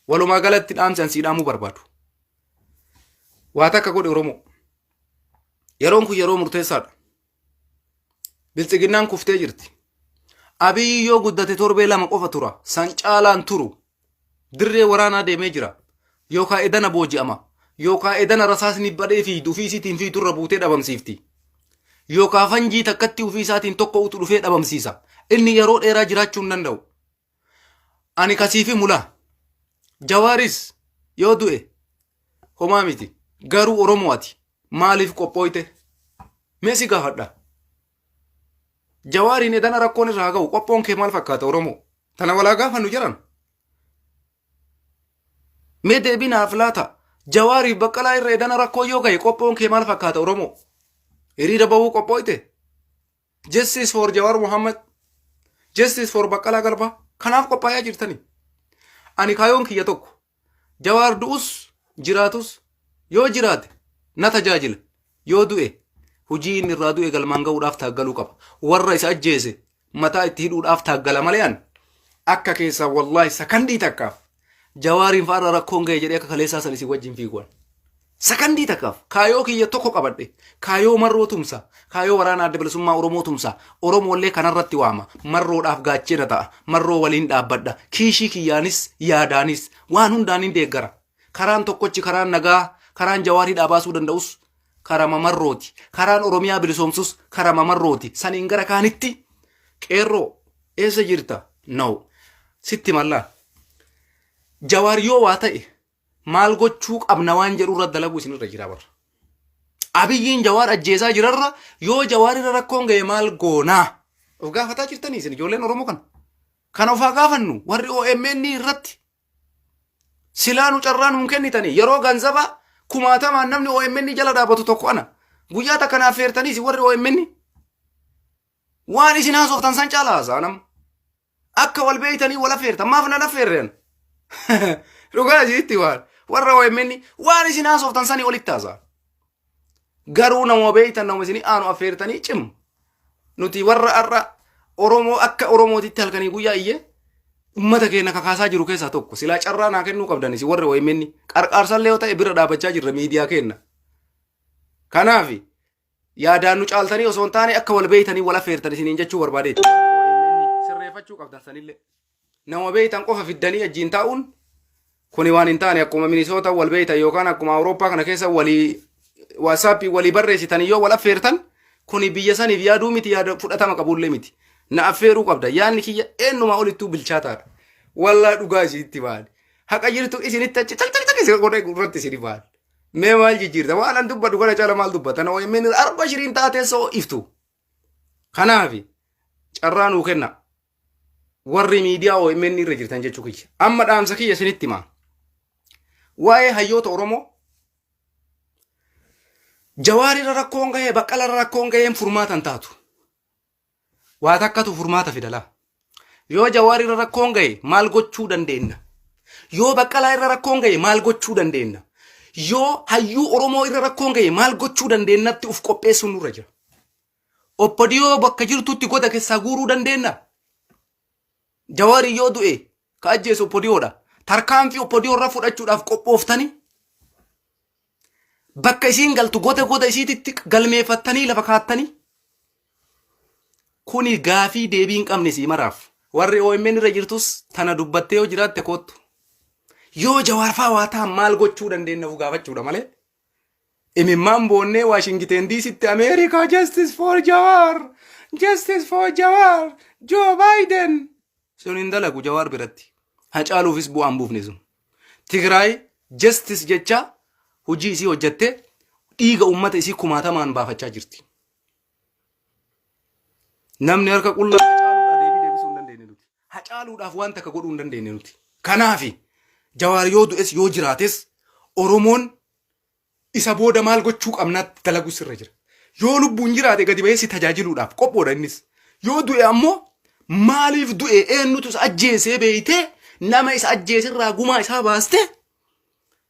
Walumaa galatti dhaamsi an sii dhaamuu barbaadu. Waa takka godhe Oromoo. Yeroon kun yeroo murteessaadha. Bilxiginnaan kuftee jirti. Abiyyi yoo guddate torbee lama qofa tura. San caalaan turu. Dirree waraanaa deemee jira. Yookaan edana booji'ama. Yookaan edana rasaasni badhee fiigdu ofii isiitiin fiigdu irra buutee dhabamsiifti. Yookaan fanjii takkatti ofii isaatiin tokko utu dhufee dhabamsiisa. Inni yeroo dheeraa jiraachuu hin danda'u. Ani kasiifi mulaa. Jawaaris yoo du'e homaa miti. Garuu Oromoo ati maaliif qophooyte? Mee si gaafadha. Jawaariin edana rakkoon irraa ga'u qophoon kee maal fakkaata Oromoo? Tana walaa gaafannu jiran. Mee deebii naaf laata? Jawaariif baqqalaa irra edana rakkoo yoo ga'e qophoon kee maal fakkaata Oromoo? Hiriira bahuu qophooyte? Justice for Jawar Muhammad, Justice for Baqqalaa Garbaa kanaaf qophaa'aa jirtanii. Ani kaayoon kiyya tokko. Jawaar du'us jiraatus yoo jiraate na tajaajila. Yoo du'e hojii inni irraa du'e galmaan ga'uudhaaf taaggaluu qaba. Warra isa ajjeese mataa itti hidhuudhaaf taaggala malee ani akka keessaa wallaahi sakandii takkaaf Jawaariin fa'aarra rakkoon ga'e jedhee akka kaleessaa san isin wajjin fiiguwan. Sakandii takkaaf kaayoo kiyya tokko qabadhe kaayoo marroo tumsa kaayoo waraana adda bilisummaa Oromoo tumsa Oromoollee kanarratti waama marroodhaaf gaachena ta'a marroo waliin dhaabbadha kiishii kiyyaanis yaadaanis waan hundaan hin deeggara karaan tokkochi karaan nagaa karaan jawaarii dhaabaasuu danda'us karama marrooti karaan Oromiyaa bilisoomsus karama marrooti saniin gara kaanitti qeerroo Eessa jirta? No. Sitti mallaa. Jawaar yoo waa ta'e maal gochuu qabna waan jedhu irra dalaguu isinirra jira barra. Abiyyiin jawaar ajjeesaa jirarra yoo jawaar irra rakkoon ga'e maal goonaa? Of gaafataa jirtanii isin ijoolleen Oromoo kana. Kan ofaa gaafannu warri OMN irratti silaa nu carraa nuun kennitanii yeroo ganzabaa kumaatamaan namni OMN jala dhaabatu tokko ana. Guyyaa takka naaf feertaniis warri OMN Waan isin haasoftan san caala haasa'a nama. Akka wal beeytanii wal affeertan maaf nan affeerreen? Dhugaa isiitti waan warra OMN waan isin haasoftan sanii olitti haasa'a. Garuu nama beeytan nama isin aanu affeertanii cim. Nuti warra har'a Oromoo akka Oromootitti halkanii guyyaa iyyee ummata keenya kakaasaa jiru keessaa tokko silaa carraa naa kennuu qabdan isin warra OMN qarqaarsallee yoo ta'e bira dhaabachaa jirra miidiyaa keenya. Kanaafi Yaadaan nu caaltanii osoo hin taane akka wal beeytanii wal affeertan isiniin jechuu barbaadee. Sirreeffachuu qabdan sanillee. Nama beeytan qofa fiddanii ajjiin taa'uun kuni waan hin taane akkuma minisoota wal beeytan yookaan akkuma Awurooppaa kana keessa walii waatsaappii walii barreessitan yoo wal affeertan kuni biyya saniif yaaduu miti yaada fudhatama qabullee miti. Na affeeruu qabda yaadni kiyya eenyumaa olittuu bilchaataadha. Wallaa dhugaa isinitti baale. Haqa jirtu isinitti achi caqcaqcaq isin godhee irratti isin baale. Mee maal jijjiirta? Waan an dubbadhu kana caala maal dubbata? Na OMN arba shiriin taatee soo iftu. Kanaaf carraa nuu kenna. Warri miidiyaa OMN irra jirtan jechuu kiyya. Amma dhaamsa kiyya isinitti himaa. Waa'ee hayyoota Oromoo jawaarira rakkoon gahee baqqalara rakkoon gaheen furmaatan taatu. Waa takkatu furmaata fida laa. Yoo Jawaar irra rakkoon gahe maal gochuu dandeenna? Yoo Baqqalaa irra rakkoon gahe maal gochuu dandeenna? Yoo hayyuu Oromoo irra rakkoon gahe maal gochuu dandeennatti uf qopheessuun nurra jira. Oppodiyoo bakka jirtutti goda keessaa guuruu dandeenna? Jawaari yoo du'e ka ajjeesu oppodiyoodha. Tarkaanfii oppodiyoo irra fudhachuudhaaf qophooftanii bakka isiin galtu goda goda isiititti galmeeffattanii lafa kaattanii kuni gaafii deebii hin qabne sii maraaf. Warri OMN irra jirtus tana dubbattee yoo jiraatte koottu. Yoo jawaarfaa waa ta'an maal gochuu dandeenyafu gaafachuudha malee Imimmaan boonnee Waashingiteen Diisitti Ameerikaa Justice for Jawaar! Justice for Jawaar! Joo Baayiden! Sun hin dalagu Jawaar biratti. Hacaaluufis bu'aan buufne sun. Tigraay Justice jechaa hojii isii hojjattee dhiiga uummata isii kumaatamaan baafachaa jirti. Namni harka qullaa hacaaluudhaa deebii deebisuu hin dandeenye nuti. Hacaaluudhaaf waan takka godhuu hin dandeenye nuti. Kanaafi jawaar yoo du'es yoo jiraates Oromoon isa booda maal gochuu qabnaatti dalaguu sirra jira. Yoo lubbuun jiraate gadi bahee si tajaajiluudhaaf qophoodha innis. Yoo du'e ammoo maaliif du'e eenyutu isa ajjeesee beeytee nama isa ajjeeserraa gumaa isaa baastee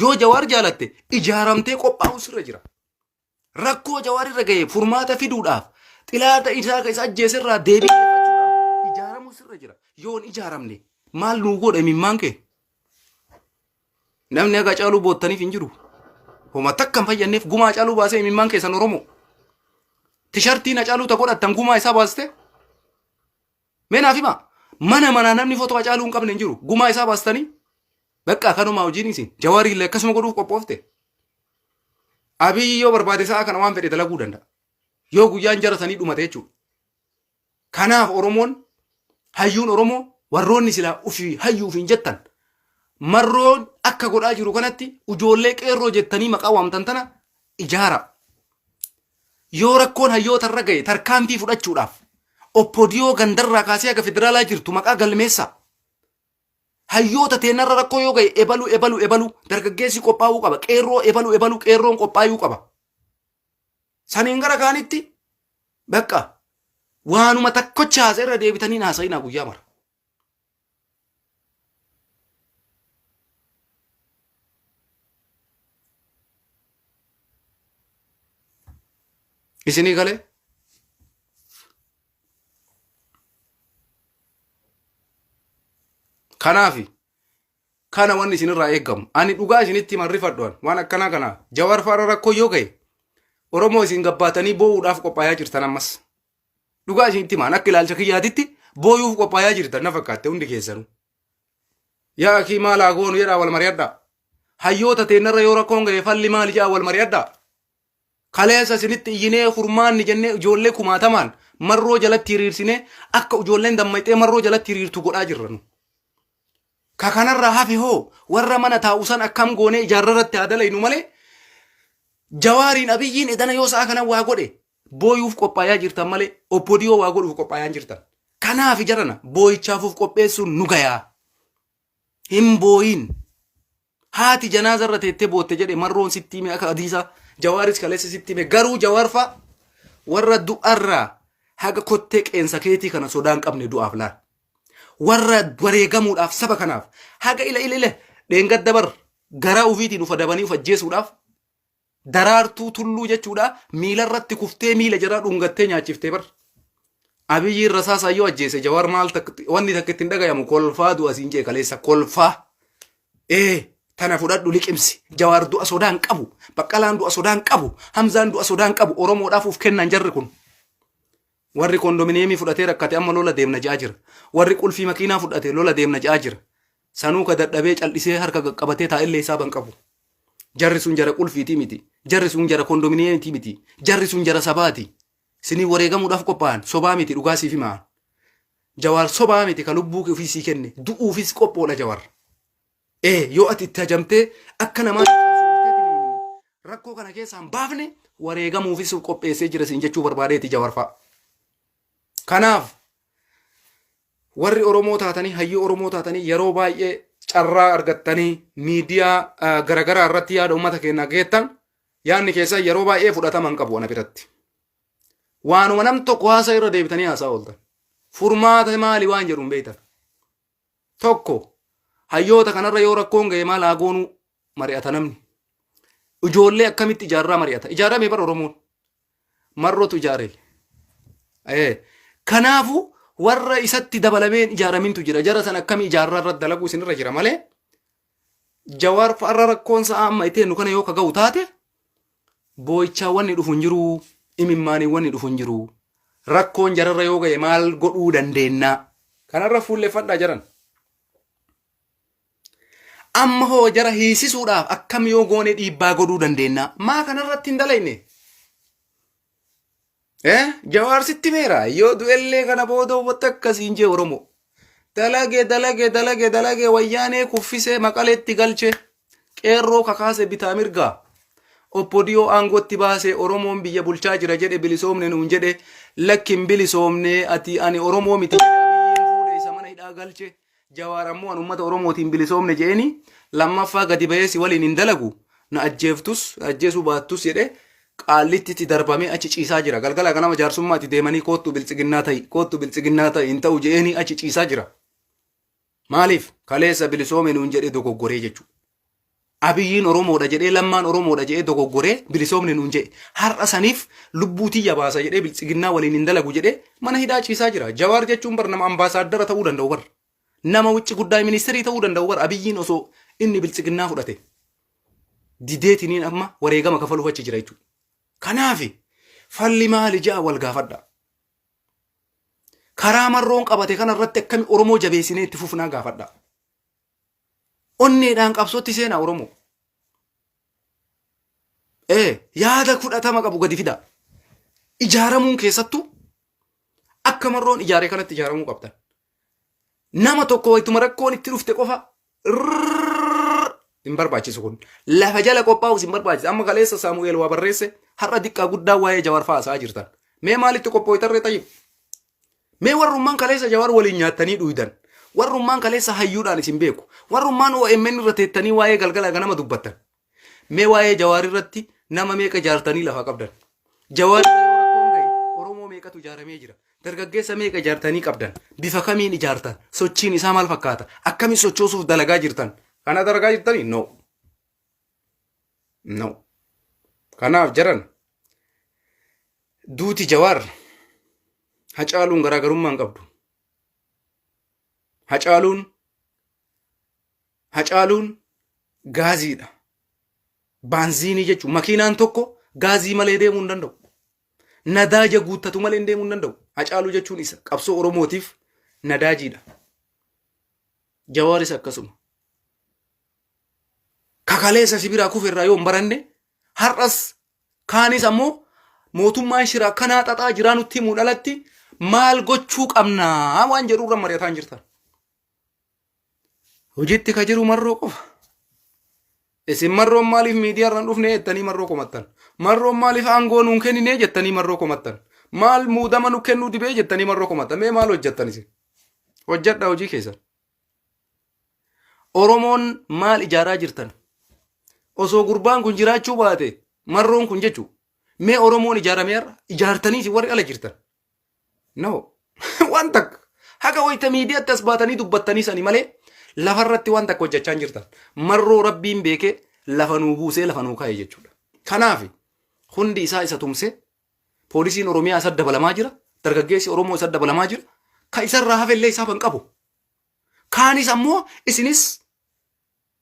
Yoo Jawaar jaalatte ijaaramtee qophaa'uu sirra jira. Rakkoo Jawaar irra ga'e furmaata fiduudhaaf xilaata isaa kan isa ajjeese irraa deebii deeffachuudhaaf ijaaramuu sirra jira. Yoo hin ijaaramne maal nuu godha imimmaan kee? Namni haga caaluu boottaniif hin jiru. Homa takka hin fayyadneef gumaa caaluu baasee imimmaan keessan Oromoo. Tishartiin hacaaluu ta godhattan gumaa isaa baaste Mee naaf himaa. Mana manaa namni footoo Hacaaluu hin qabne hin jiru. Gumaa isaa baastanii. Bakka kanumaa hojiin isin. Jawaarii illee akkasuma godhuuf qophoofte. Abiyyi yoo barbaade sa'a kana waan fedhe dalaguu danda'a. Yoo guyyaan jara sanii dhumate jechuudha. Kanaaf Oromoon hayyuun Oromoo warroonni silaa ofii hayyuuf hin jettan marroon akka godhaa jiru kanatti ijoollee qeerroo jettanii maqaa waamtan tana ijaara. Yoo rakkoon hayyoota irra ga'e tarkaanfii fudhachuudhaaf oppodiyoo gandarraa kaasee haga federaalaa jirtu maqaa galmeessaa. Hayyoota teenarra rakkoo yoo ga'e ebalu ebalu ebalu dargaggeessi qophaa'uu qaba qeerroo ebalu ebalu qeerroon qophaa'uu qaba. Saniin gara kaanitti bakka waanuma takkocha haasa irra deebitanii haasa'inaa guyyaa mara. isinii galee kanaafi kana wanni isinirraa eegamu ani dhugaa isinitti himan rifadhuan waan akkanaa kana jawar faara rakkoo yoo gahe oromoo isin gabbaatanii boo'uudhaaf qophaa'aa jirtan ammas Dhugaa isinitti himaan akka ilaalcha kiyyaatitti booyuuf qophaayaa jirtan na fakkaatte hundi keessanu. Yaa akii maal haa goonu jedhaa wal mari'adhaa. Hayyoota teennarra yoo rakkoon ga'e falli maali jedhaa wal mari'adhaa. Kaleessa isinitti iyyinee furmaanni jennee ijoollee kumaatamaan marroo jalatti hiriirsinee akka ijoolleen dammaqxee marroo jalatti hiriirtu godhaa jirra nu. Ka kanarraa hafe hoo warra mana taa'u san akkam goonee ijaarrarratti haa dalaynu malee jawaariin abiyyiin edana yoo sa'a kana waa godhe Booyuuf qophaayaa jirtan malee oppodiyoo waa godhuuf qophaayaa hin jirtan. Kanaaf jarana booyichaafuuf qopheessuun nu gayaa. Hin booyin. Haati janaaza irra teettee bootte jedhe marroon sitti hime akka adiisaa jawaaris kaleessa sitti hime garuu jawaarfaa warra du'arraa haga kottee qeensa keetii kana sodaan qabne du'aaf laal. Warra wareegamuudhaaf saba kanaaf haga ila ila ila dheengadda bar garaa ufiitiin ufa dabanii uf ajjeesuudhaaf Daraartuu tulluu jechuudha miila irratti kuftee miila jara dhungattee nyaachifte bar. Abiyyiin rasaasaan yoo ajjeese jawaar maal tak- wanni takka ittiin dhagayamu kolfaa du'a siin jee kaleessa kolfaa. Ee tana fudhadhu liqimsi jawaar du'a sodaan qabu baqqalaan du'a sodaan qabu hamzaan du'a sodaan qabu oromoodhaaf uf kennan jarri kun. Warri kondominiyeemii fudhatee rakkate amma lola deemna jedhaa jira. Warri qulfii makiinaa fudhate lola deemna jedhaa jira. Sanuu ka dadhabee cal'isee harka qaqqabatee taa'ellee hisaaba hin qabu. Jarri sun jara qulfiitii miti. Jarri sun jara kondominiyeemitii miti. Jarri sun jara sabaati. Sinii wareegamuudhaaf qophaa'an sobaa miti dhugaa siif himaa. Jawaar sobaa miti ka lubbuu ofii sii kenne du'uufis qophoodha Jawaar. Ee yoo ati itti hajamtee akka namaatti qabsoofteetiniin rakkoo kana keessaa hin baafne wareegamuufis of qopheessee jira siin jechuu barbaadeeti Jawar fa'a. Kanaaf warri Oromoo taatanii hayyuu Oromoo taatanii yeroo baay'ee carraa argattanii miidiyaa ah, garagaraa irratti yaada uummata keenyaa geettan yaadni keessan yeroo baay'ee fudhatama hin qabu ana biratti. Waanuma nam tokko haasaa irra deebitanii haasaa ooltan. Furmaata maali waan jedhu hin beektan. Tokko, hayyoota kanarra yoo rakkoon ga'e maal haa goonuu mari'ata namni. Ijoollee akkamitti ijaarraa mari'ata. Ijaarame bara Oromoon. Marrootu ijaare. Eh, Kanaafu warra isatti dabalameen ijaaramintu jira. Jara san akkami ijaarraa irratti dalaguu isinirra jira malee Jawaar fa'arra rakkoon sa'a amma itti nu kana yoo ka ga'u taate boo'ichaa wanni dhufu hin jiru imimmaanii wanni dhufu hin jiru rakkoon jararra yoo ga'e maal godhuu dandeennaa kanarra fuulleffadhaa jaran. Amma hoo jara hiisisuudhaaf akkam yoo goone dhiibbaa godhuu dandeennaa maa kanarratti hin dalayne Eh, Jawaar sitti meera yoo du'ellee kana booda uummata akkasiin jee Oromoo. Dalage dalage dalage dalage wayyaanee kuffisee maqaleetti galche qeerroo kakaase bitaa mirgaa. Oppodiyoo aangootti baasee Oromoon biyya bulchaa jira jedhe bilisoomne nuun jedhe lakkin bilisoomne ati ani Oromoo miti jedhe abiyyiin fuudhe isa mana hidhaa galche Jawaar ammoo an ummata Oromootiin bilisoomne je'eeni lammaffaa gadi bahee si waliin hin dalagu na ajjeeftus na ajjeesuu baattus jedhee qaallittitti darbamee achi ciisaa jira. Galgala ganama jaarsummaatti deemanii koottu biltsiginnaa ta'i koottu biltsiginnaa ta'i hin ta'u je'eeni achi ciisaa jira. Maaliif kaleessa bilisoome nuun jedhee dogoggoree jechuudha. Abiyyiin Oromoodha jedhee Lammaan Oromoodha jedhee dogoggoree bilisoomne nuun jedhe. Har'a saniif lubbuu tiyya baasa jedhee biltsiginnaa waliin hin dalagu jedhee mana hidhaa ciisaa jira. Jawaar jechuun bar nama ambaasaaddara ta'uu danda'u bar. Nama wicci guddaay ministirii ta'uu danda'u bar Abiyyiin osoo inni biltsiginnaa fudhate. Dideetiniin amma wareegama kafaluuf achi jira jechuudha. Kanaafi falli maali ja'a wal gaafadha. Karaa marroon qabate kana irratti akkami Oromoo jabeessinee itti fufnaa gaafadha. Onneedhaan qabsootti seenaa Oromoo. Ee yaada fudhatama qabu gadi fidaa. Ijaaramuun keessattuu akka marroon ijaaree kanatti ijaaramuu qabdan. Nama tokko wayituma rakkoon itti dhufte qofa rrrr hin barbaachisu kun. Lafa jala qophaa'us hin barbaachisu. Amma kaleessa Saamu'eel waa barreesse har'a diqqaa guddaa waa'ee Jawaar fa'aa haasa'aa jirtan. Mee maalitti qophooytarree tayyib? Mee warrummaan kaleessa Jawaar waliin nyaattanii dhuydan, warrummaan kaleessa hayyuudhaan isin beeku, warrummaan OMN irra teettanii waa'ee galgala ganama dubbattan, mee waa'ee Jawaar irratti nama meeqa ijaartanii lafa qabdan? Jawaar irra yoo rakkoon ga'e Oromoo meeqatu ijaaramee jira? Dargaggeessa meeqa ijaartanii qabdan? Bifa kamiin ijaartan? Sochiin isaa maal fakkaata? Akkamiin sochoosuuf dalagaa jirtan? Kana dalagaa jirtanii? No. No. Kanaaf jaran duuti jawaar hacaaluun garaagarummaa hin qabdu. Hacaaluun hacaaluun gaaziidha. Baanziinii jechuun makiinaan tokko gaazii malee deemuu hin danda'u. Nadaaja guuttatu malee deemuu hin danda'u. Hacaaluu jechuun isa qabsoo Oromootiif nadaajiidha. Jawaaris akkasuma. ka kaleessa si biraa kufe irraa yoo hin baranne har'as kaanis ammoo mootummaan shira akkanaa xaxaa jiraa nutti himuun alatti maal gochuu qabnaa waan jedhu irra mari'ataa hin jirtan. Hojiitti ka jiru marroo qofa. Isin marroon maaliif miidiyaa irraan dhufne jettanii marroo komattan. Marroon maaliif aangoo nuun kennine jettanii marroo komattan. Maal muudama nu kennuu dibee jettanii marroo komattan. Mee maal hojjettan isin? Hojjedha hojii keessan. Oromoon maal ijaaraa jirtan? Osoo gurbaan kun jiraachuu baate marroon kun jechuu mee Oromoon ijaaramee har'a ijaartanii isin warri ala jirtan. No. waan takka. Haga wayita miidiyaatti as baatanii dubbattanii sani malee lafarratti waan takka hojjechaa hin jirtan. Marroo rabbiin beekee lafa nuu buusee lafa nuu kaa'e jechuudha. Kanaaf hundi isaa isa tumsee poolisiin Oromiyaa isa dabalamaa jira. Dargaggeessi Oromoo isa dabalamaa jira. Ka isarraa hafe illee isaaf hin qabu. Kaanis ammoo isinis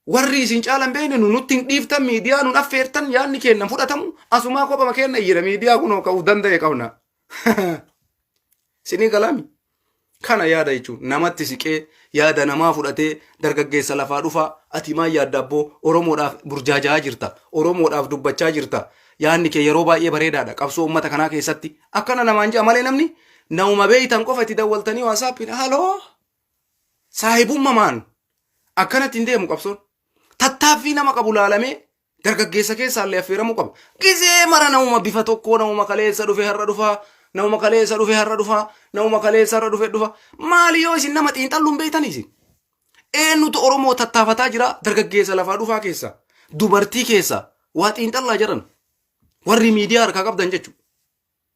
warri isin caalan beekne nu nutti hin dhiiftan miidiyaa nun affeertan yaadni keenna fudhatamu asumaa kophama keenna iyyina miidiyaa kunoo ka'u danda'e qabna. Sinii galaami. Kana yaada jechuun namatti siqee yaada namaa fudhatee dargaggeessa lafaa dhufaa ati maal yaadda abboo Oromoodhaaf burjaaja'aa jirta Oromoodhaaf dubbachaa jirta yaadni kee yeroo baay'ee bareedaadha qabsoo uummata kanaa keessatti akkana namaan ja'a malee namni nauma beeytan qofa itti dawwaltanii waasaappiin haaloo saahibummamaan akkanatti hin deemu qabsoon. Tattaaffii nama qabu laalamee dargaggeessa keessaa illee affeeramuu qaba. Gizee mara namuma bifa tokkoo namuma kaleessa dhufe har'a dhufaa namuma kaleessa dhufe har'a dhufaa namuma kaleessa har'a dhufe dhufa maali yoo isin nama xiinxalluun beektan isin. Eenyutu Oromoo tattaafataa jira dargaggeessa lafaa dhufaa keessaa dubartii keessaa waa xiinxallaa jiran warri miidiyaa harkaa qabdan jechuudha.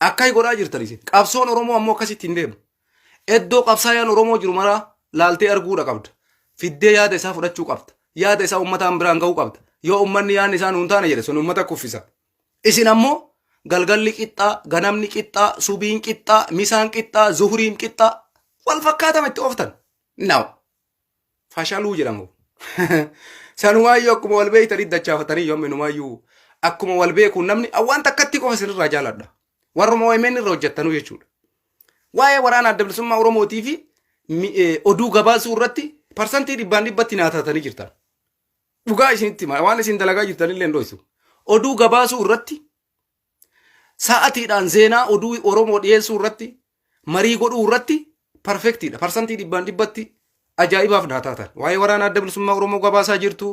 Akkai godhaa jirtan isin. Qabsoon Oromoo ammoo akkasitti hin deemu. Eddoo qabsaayaan Oromoo jiru maraa laaltee arguudha qabda. Fiddee yaada isaa fudhachuu qabda. Yaada isaa ummataan biraan ga'uu qabda. Yoo ummanni yaadni isaa nuun taane jedhe sun ummata kuffisa. Isin ammoo galgalli qixxaa, ganamni qixxaa, subiin qixxaa, misaan qixxaa, zuhuriin qixxaa wal fakkaatama itti ooftan. Now. fashaluu jedhamu. Sanumaayyuu akkuma wal beektanii dachaafatanii yoom inumaayyuu akkuma wal beekuun namni waan takkatti qofa isinirraa jaaladha. Warruma OMN irra hojjettanuu jechuudha. Waa'ee waraana adda bilisummaa Oromootii fi mi- eh, oduu gabaasuu irratti parsantii dhibbaan dhibbatti naatatanii jirtan. Dhugaa isinitti hima. Waan isin dalagaa jirtan illee hin dho'isu. Oduu gabaasuu irratti Sa'atiidhaan zeenaa oduu Oromoo dhiyeessuu irratti marii godhuu irratti parfektiidha. Parsantii dhibbaan dhibbatti ajaa'ibaaf naa taatan. Waa'ee waraana adda bilisummaa Oromoo gabaasaa jirtu,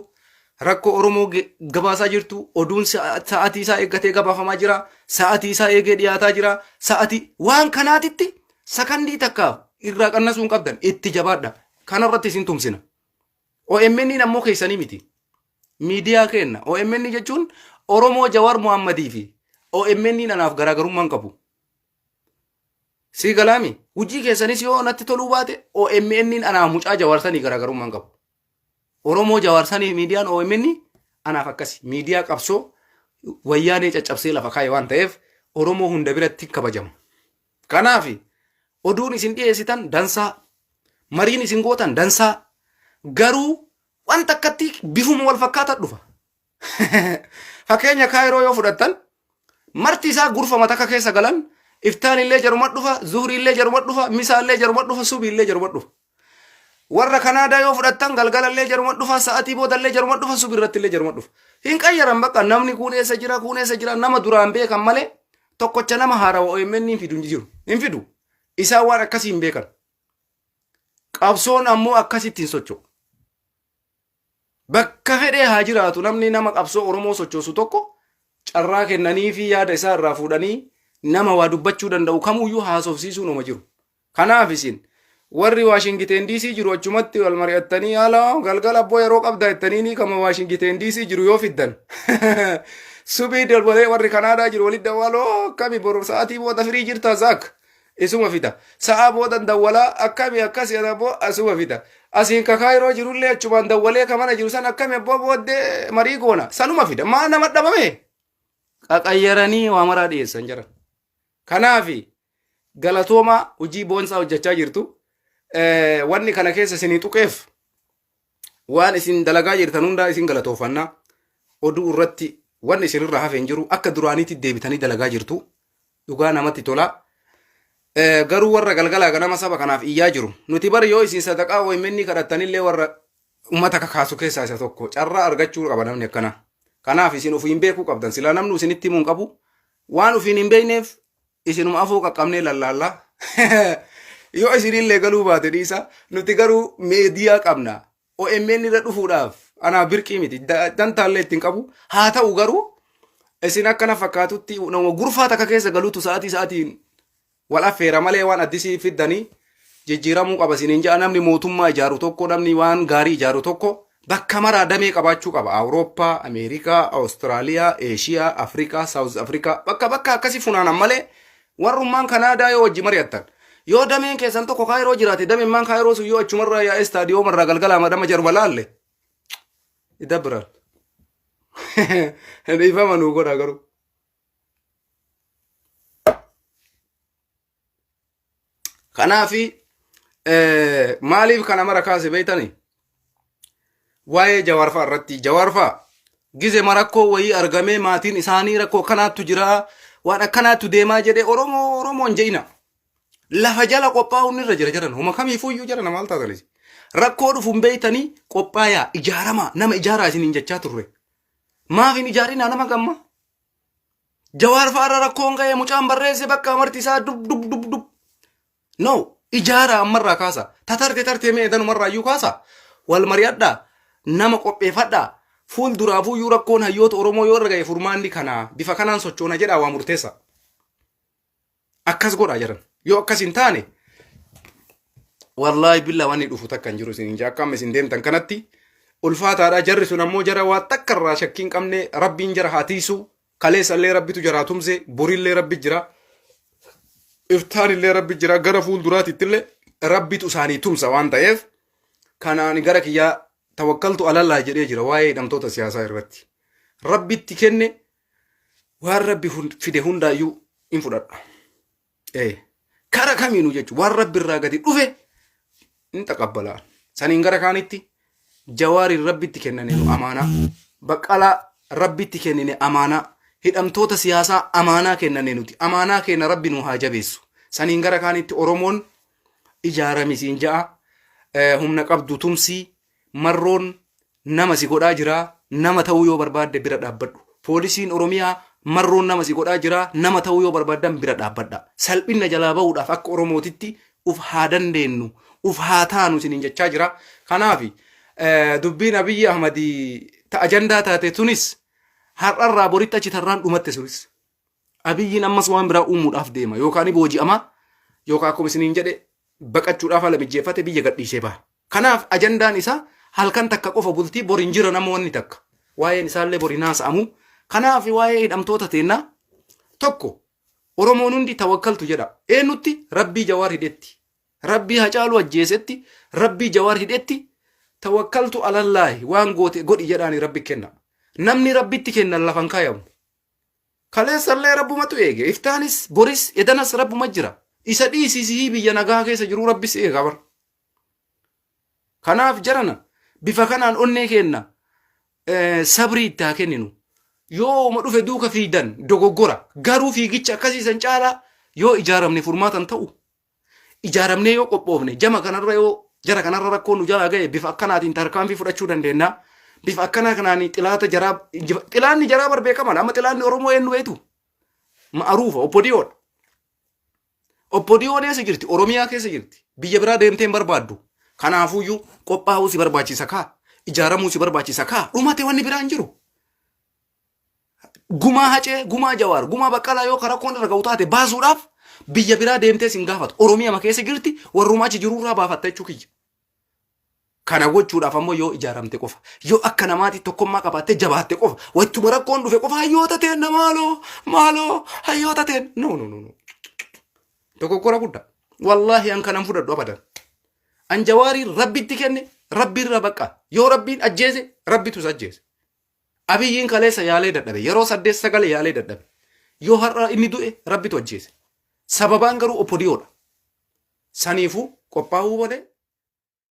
rakkoo Oromoo ge- gabaasaa jirtu, oduun sa'a- sa'atii isaa eeggatee gabaafamaa jira, sa'atii isaa eegee dhiyaataa jira, sa'atii waan kanaatitti sakandii takka irraa qannasuu hin qabdan itti jabaadha. Kanarratti isin tumsina. OMN ammoo keessanii miti. Miidiyaa keenna. OMN jechuun Oromoo Jawaar Muhammadii fi OMN anaaf garaagarummaa hin qabu. Sii galaami. Hujii keessanis yoo natti toluu baate OMN anaaf mucaa Jawaar sanii garaagarummaa hin qabu. Oromoo Jawaar sanii miidiyaan OMN anaaf akkasi. Miidiyaa qabsoo wayyaanee caccabsee lafa kaa'e waan ta'eef Oromoo hunda biratti hin kabajamu. Kanaaf oduun isin dhiyeessitan dansaa, mariin isin gootan dansaa, garuu waan takkatti bifuma wal fakkaata dhufa. Fakkeenya kaayiroo yoo fudhattan marti isaa gurfama takka keessa galan iftaan illee jaruma dhufa, zuhri illee jaruma dhufa, misaa illee jaruma dhufa, subi illee jaruma dhufa. Warra Kanaadaa yoo fudhattan galgalallee jaruma dhufa, sa'atii boodallee jaruma dhufa, subi irrattillee jaruma dhufa. Hin qayyaran bakka namni kuun eessa jira, kuun eessa jira, nama duraan beekan malee tokkocha nama haarawa OMN hin fidu hin jiru. Hin fidu. Isaan waan akkasii hin beekan. Qabsoon ammoo akkasitti hin socho'u. Bakka fedhee haa jiraatu namni nama qabsoo Oromoo sochoosu tokko carraa kennaniifii yaada isaa irraa fuudhanii nama waa dubbachuu danda'u kamuuyyuu haasofsiisuun homa jiru. Kanaaf isin warri Waashingiteen DC jiru achumatti wal mari'attanii haala galgala abboo yeroo qabdaa jettaniinii kama Waashingiteen DC jiru yoo fiddan. Subii dalbalee warri Kanaadaa jiru walitti dawwaaloo akkami bor sa'aatii booda firii jirta Zaak. Isuma fida. Sa'aa boodan dawwalaa, akkami akkasi jedhan abboo asuma fida. Asiin ka Kaayiroo jirullee achumaan dawwalee ka mana jiru san akkami abboo booddee marii goona. Sanuma fida. Maa nama dhabame? Qaqayyaranii waa maraa dhiyeessan jiran. Kanaafi galatoomaa hojii boonsaa hojjechaa jirtu. Eh, Wanni kana keessa isinii tuqeef Waan isin dalagaa jirtan hundaa isin galatoofanna. Oduu irratti wanni isinirra hafe hin jiru. Akka duraaniitti deebitanii dalagaa jirtu. Dhugaa namatti tola. Eh, Garuu warra galgalaa ganama saba kanaaf iyyaa jiru. Nuti bar yoo isin sadaqaa OMN kadhattanillee warra ummata kakaasu keessaa isa tokko. Carraa argachuu qaba namni akkana. Kanaaf isin ofiin beekuu qabdan. Silaa namni isinitti himuu hin qabu. Waan ofiin hin beekneef isinuma afoo qaqqabnee lallaalla yoo isinillee galuu baate dhiisa nuti garuu meediyaa qabna OMN irra dhufuudhaaf anaa birqii miti da- dantaallee ittiin qabu haa ta'u garuu isin akkana fakkaatutti nama gurfaa takka keessa galuutu sa'aatii sa'aatiin wal affeera malee waan addisii fiddanii jijjiiramuu qaba isiniin ja'a namni mootummaa ijaaru tokko namni waan gaarii ijaaru tokko bakka maraa damee qabaachuu qaba awurooppaa ameerikaa awustiraaliyaa eeshiyaa afrikaa saawuz afrikaa bakka bakka akkasii funaanan malee warrummaan kanaadaa yoo wajji mari'attan yoo dameen keessan tokko kaayiroo jiraate damemmaan kaayiroo sun yoo achumarraa yaa'ee istaadiyoomarraa galgalaa madama jaruma laalle idabbiran dhiifama nuu godha garuu Kanaaf maaliif kana mara kaase beektani? Waa'ee jawaarfaa irratti jawaarfaa gize marakkoo wayii argamee maatiin isaanii rakkoo kanaattu jira waan akkanaattu deemaa jedhee Oromoo Oromoon je'ina. Lafa jala qophaa'uun irra jira jedhan homa kamiifuyyuu jedhan maal taatanis. Rakkoo dhufuun beektanii qophaayaa ijaaramaa nama ijaaraa isiniin jechaa turre. Maaf hin ijaarinaa nama gamma? Jawaar fa'aarra rakkoon ka'ee mucaan barreesse bakka amartii isaa dub dub dub dub. No ijaara ammarraa kaasa. Tatarte tartee mee danumarraa iyyuu kaasa. Wal mari'adhaa. Nama qopheeffadhaa. Fuul duraafuu iyyuu rakkoon hayyoota Oromoo yoo irra ga'e furmaanni kanaa bifa kanaan sochoona jedhaa waa murteessa. Akkas godhaa jaran. Yoo akkas hin taane wallaahi billaa waan inni dhufu takka hin jiru isin hin jaa akka amma isin deemtan kanatti ulfaataadha jarri sun ammoo jara waa takka irraa shakkii hin qabne rabbiin jara haa tiisu kaleessa illee rabbitu jaraa tumse borillee rabbi jira iftaan illee rabbi jira gara fuulduraatitti illee rabbitu isaanii tumsa waan ta'eef kanaan gara kiyyaa tawakkaltu alallah jedhee jira waa'ee hidhamtoota siyaasaa irratti rabbitti kenne waan rabbi fide hundaayyuu in fudhadha ee kara kamiinu jechu waan rabbi irraa gadi dhufe in taqabbalaa saniin gara kaanitti jawaariin rabbitti kennane nu amaanaa baqqalaa rabbitti kennine amaanaa hidhamtoota siyaasaa amaanaa kennane nuti amaanaa keenya rabbi nu haa jabeessu saniin gara kaanitti oromoon ijaaramisiin ja'a humna qabdu tumsii Marroon nama si godhaa jira, nama ta'uu yoo barbaadde bira dhaabbadhu. Poolisiin Oromiyaa Marroon nama si godhaa jira, nama ta'uu yoo barbaaddan bira dhaabbadhaa. Salphinna jalaa bahuudhaaf akka Oromootitti uf haa dandeennu, uf haa taanu isiniin jechaa jira. Kanaafi dubbiin Abiyyi Ahmad ta ajandaa taate tunis har'arraa boritti achi tarraan dhumatte sunis. Abiyyiin ammas waan biraa uumuudhaaf deema. Yookaan ni booji'ama yookaan akkuma isiniin jedhe baqachuudhaaf haala mijjeeffate biyya gadhiisee baha. Kanaaf ajandaan isaa halkan takka qofa bultii bor hin jiran amma wanni takka. Waa'een isaallee bor hin haasa'amu. Kanaaf waa'ee hidhamtoota teennaa tokko Oromoon hundi tawakkaltu jedha. Eenyutti rabbii jawaar hidhetti. Rabbii hacaaluu ajjeesetti rabbii jawaar hidhetti tawakkaltu alallaahi waan goote godhi jedhaani rabbi kenna. Namni rabbitti kennan lafan kaayamu. Kaleessallee Rabbumatu eege. Iftaanis, boris, edanas Rabbuma jira. Isa dhiisii sihii biyya nagaa keessa jiruu Rabbi si eega bar. Kanaaf jarana bifa kanaan onnee keenna eh, sabrii itti haa kenninu. Yoo uma dhufe duuka fiidan dogoggora. Garuu fiigicha akkasii san caalaa yoo ijaaramne furmaatan ta'u ijaaramnee yoo qophoofne jama kanarra yoo jara kanarra rakkoon nu jalaa ga'e bifa akkanaatiin tarkaanfii fudhachuu dandeenya. Bifa akkanaa kanaan xilaata jaraa injifa- xilaanni jaraa bar beekamadha. Amma xilaanni Oromoo eenyu beektu? Ma'aruufa, obbodiyoodha. Obbodiyoon eessa jirti? Oromiyaa keessa jirti. Biyya biraa deemtee hin barbaaddu. Kanaafuyyuu qophaa'uu si barbaachisa kaa. Ijaaramuu si barbaachisa kaa. Dhumate wanni biraa hin jiru. gumaa hacee gumaa jawaar gumaa baqqalaa yoo ka rakkoon irra ga'u taate baasuudhaaf biyya biraa deemtee sin gaafatu oromiyama keessa jirti warrumaa achi jiruu irraa baafatta jechuu kiyya kana gochuudhaaf ammoo yoo ijaaramte qofa yoo akka namaati tokkummaa qabaattee jabaatte qofa wattuma rakkoon dhufe qofa hayyoota teenna maaloo maaloo hayyoota teenna no no no no dogoggora guddaa wallaahi an kanan fudhadhu abadan an jawaarii rabbitti kenne rabbiirra baqqa yoo rabbiin ajjeese rabbitus ajjeese Abiyyiin kaleessa yaalee dadhabe. Yeroo saddeet sagal yaalee dadhabe. Yoo har'a inni du'e rabbitu ajjeese. Sababaan garuu opodiyoodha. Saniifuu qophaa'uu malee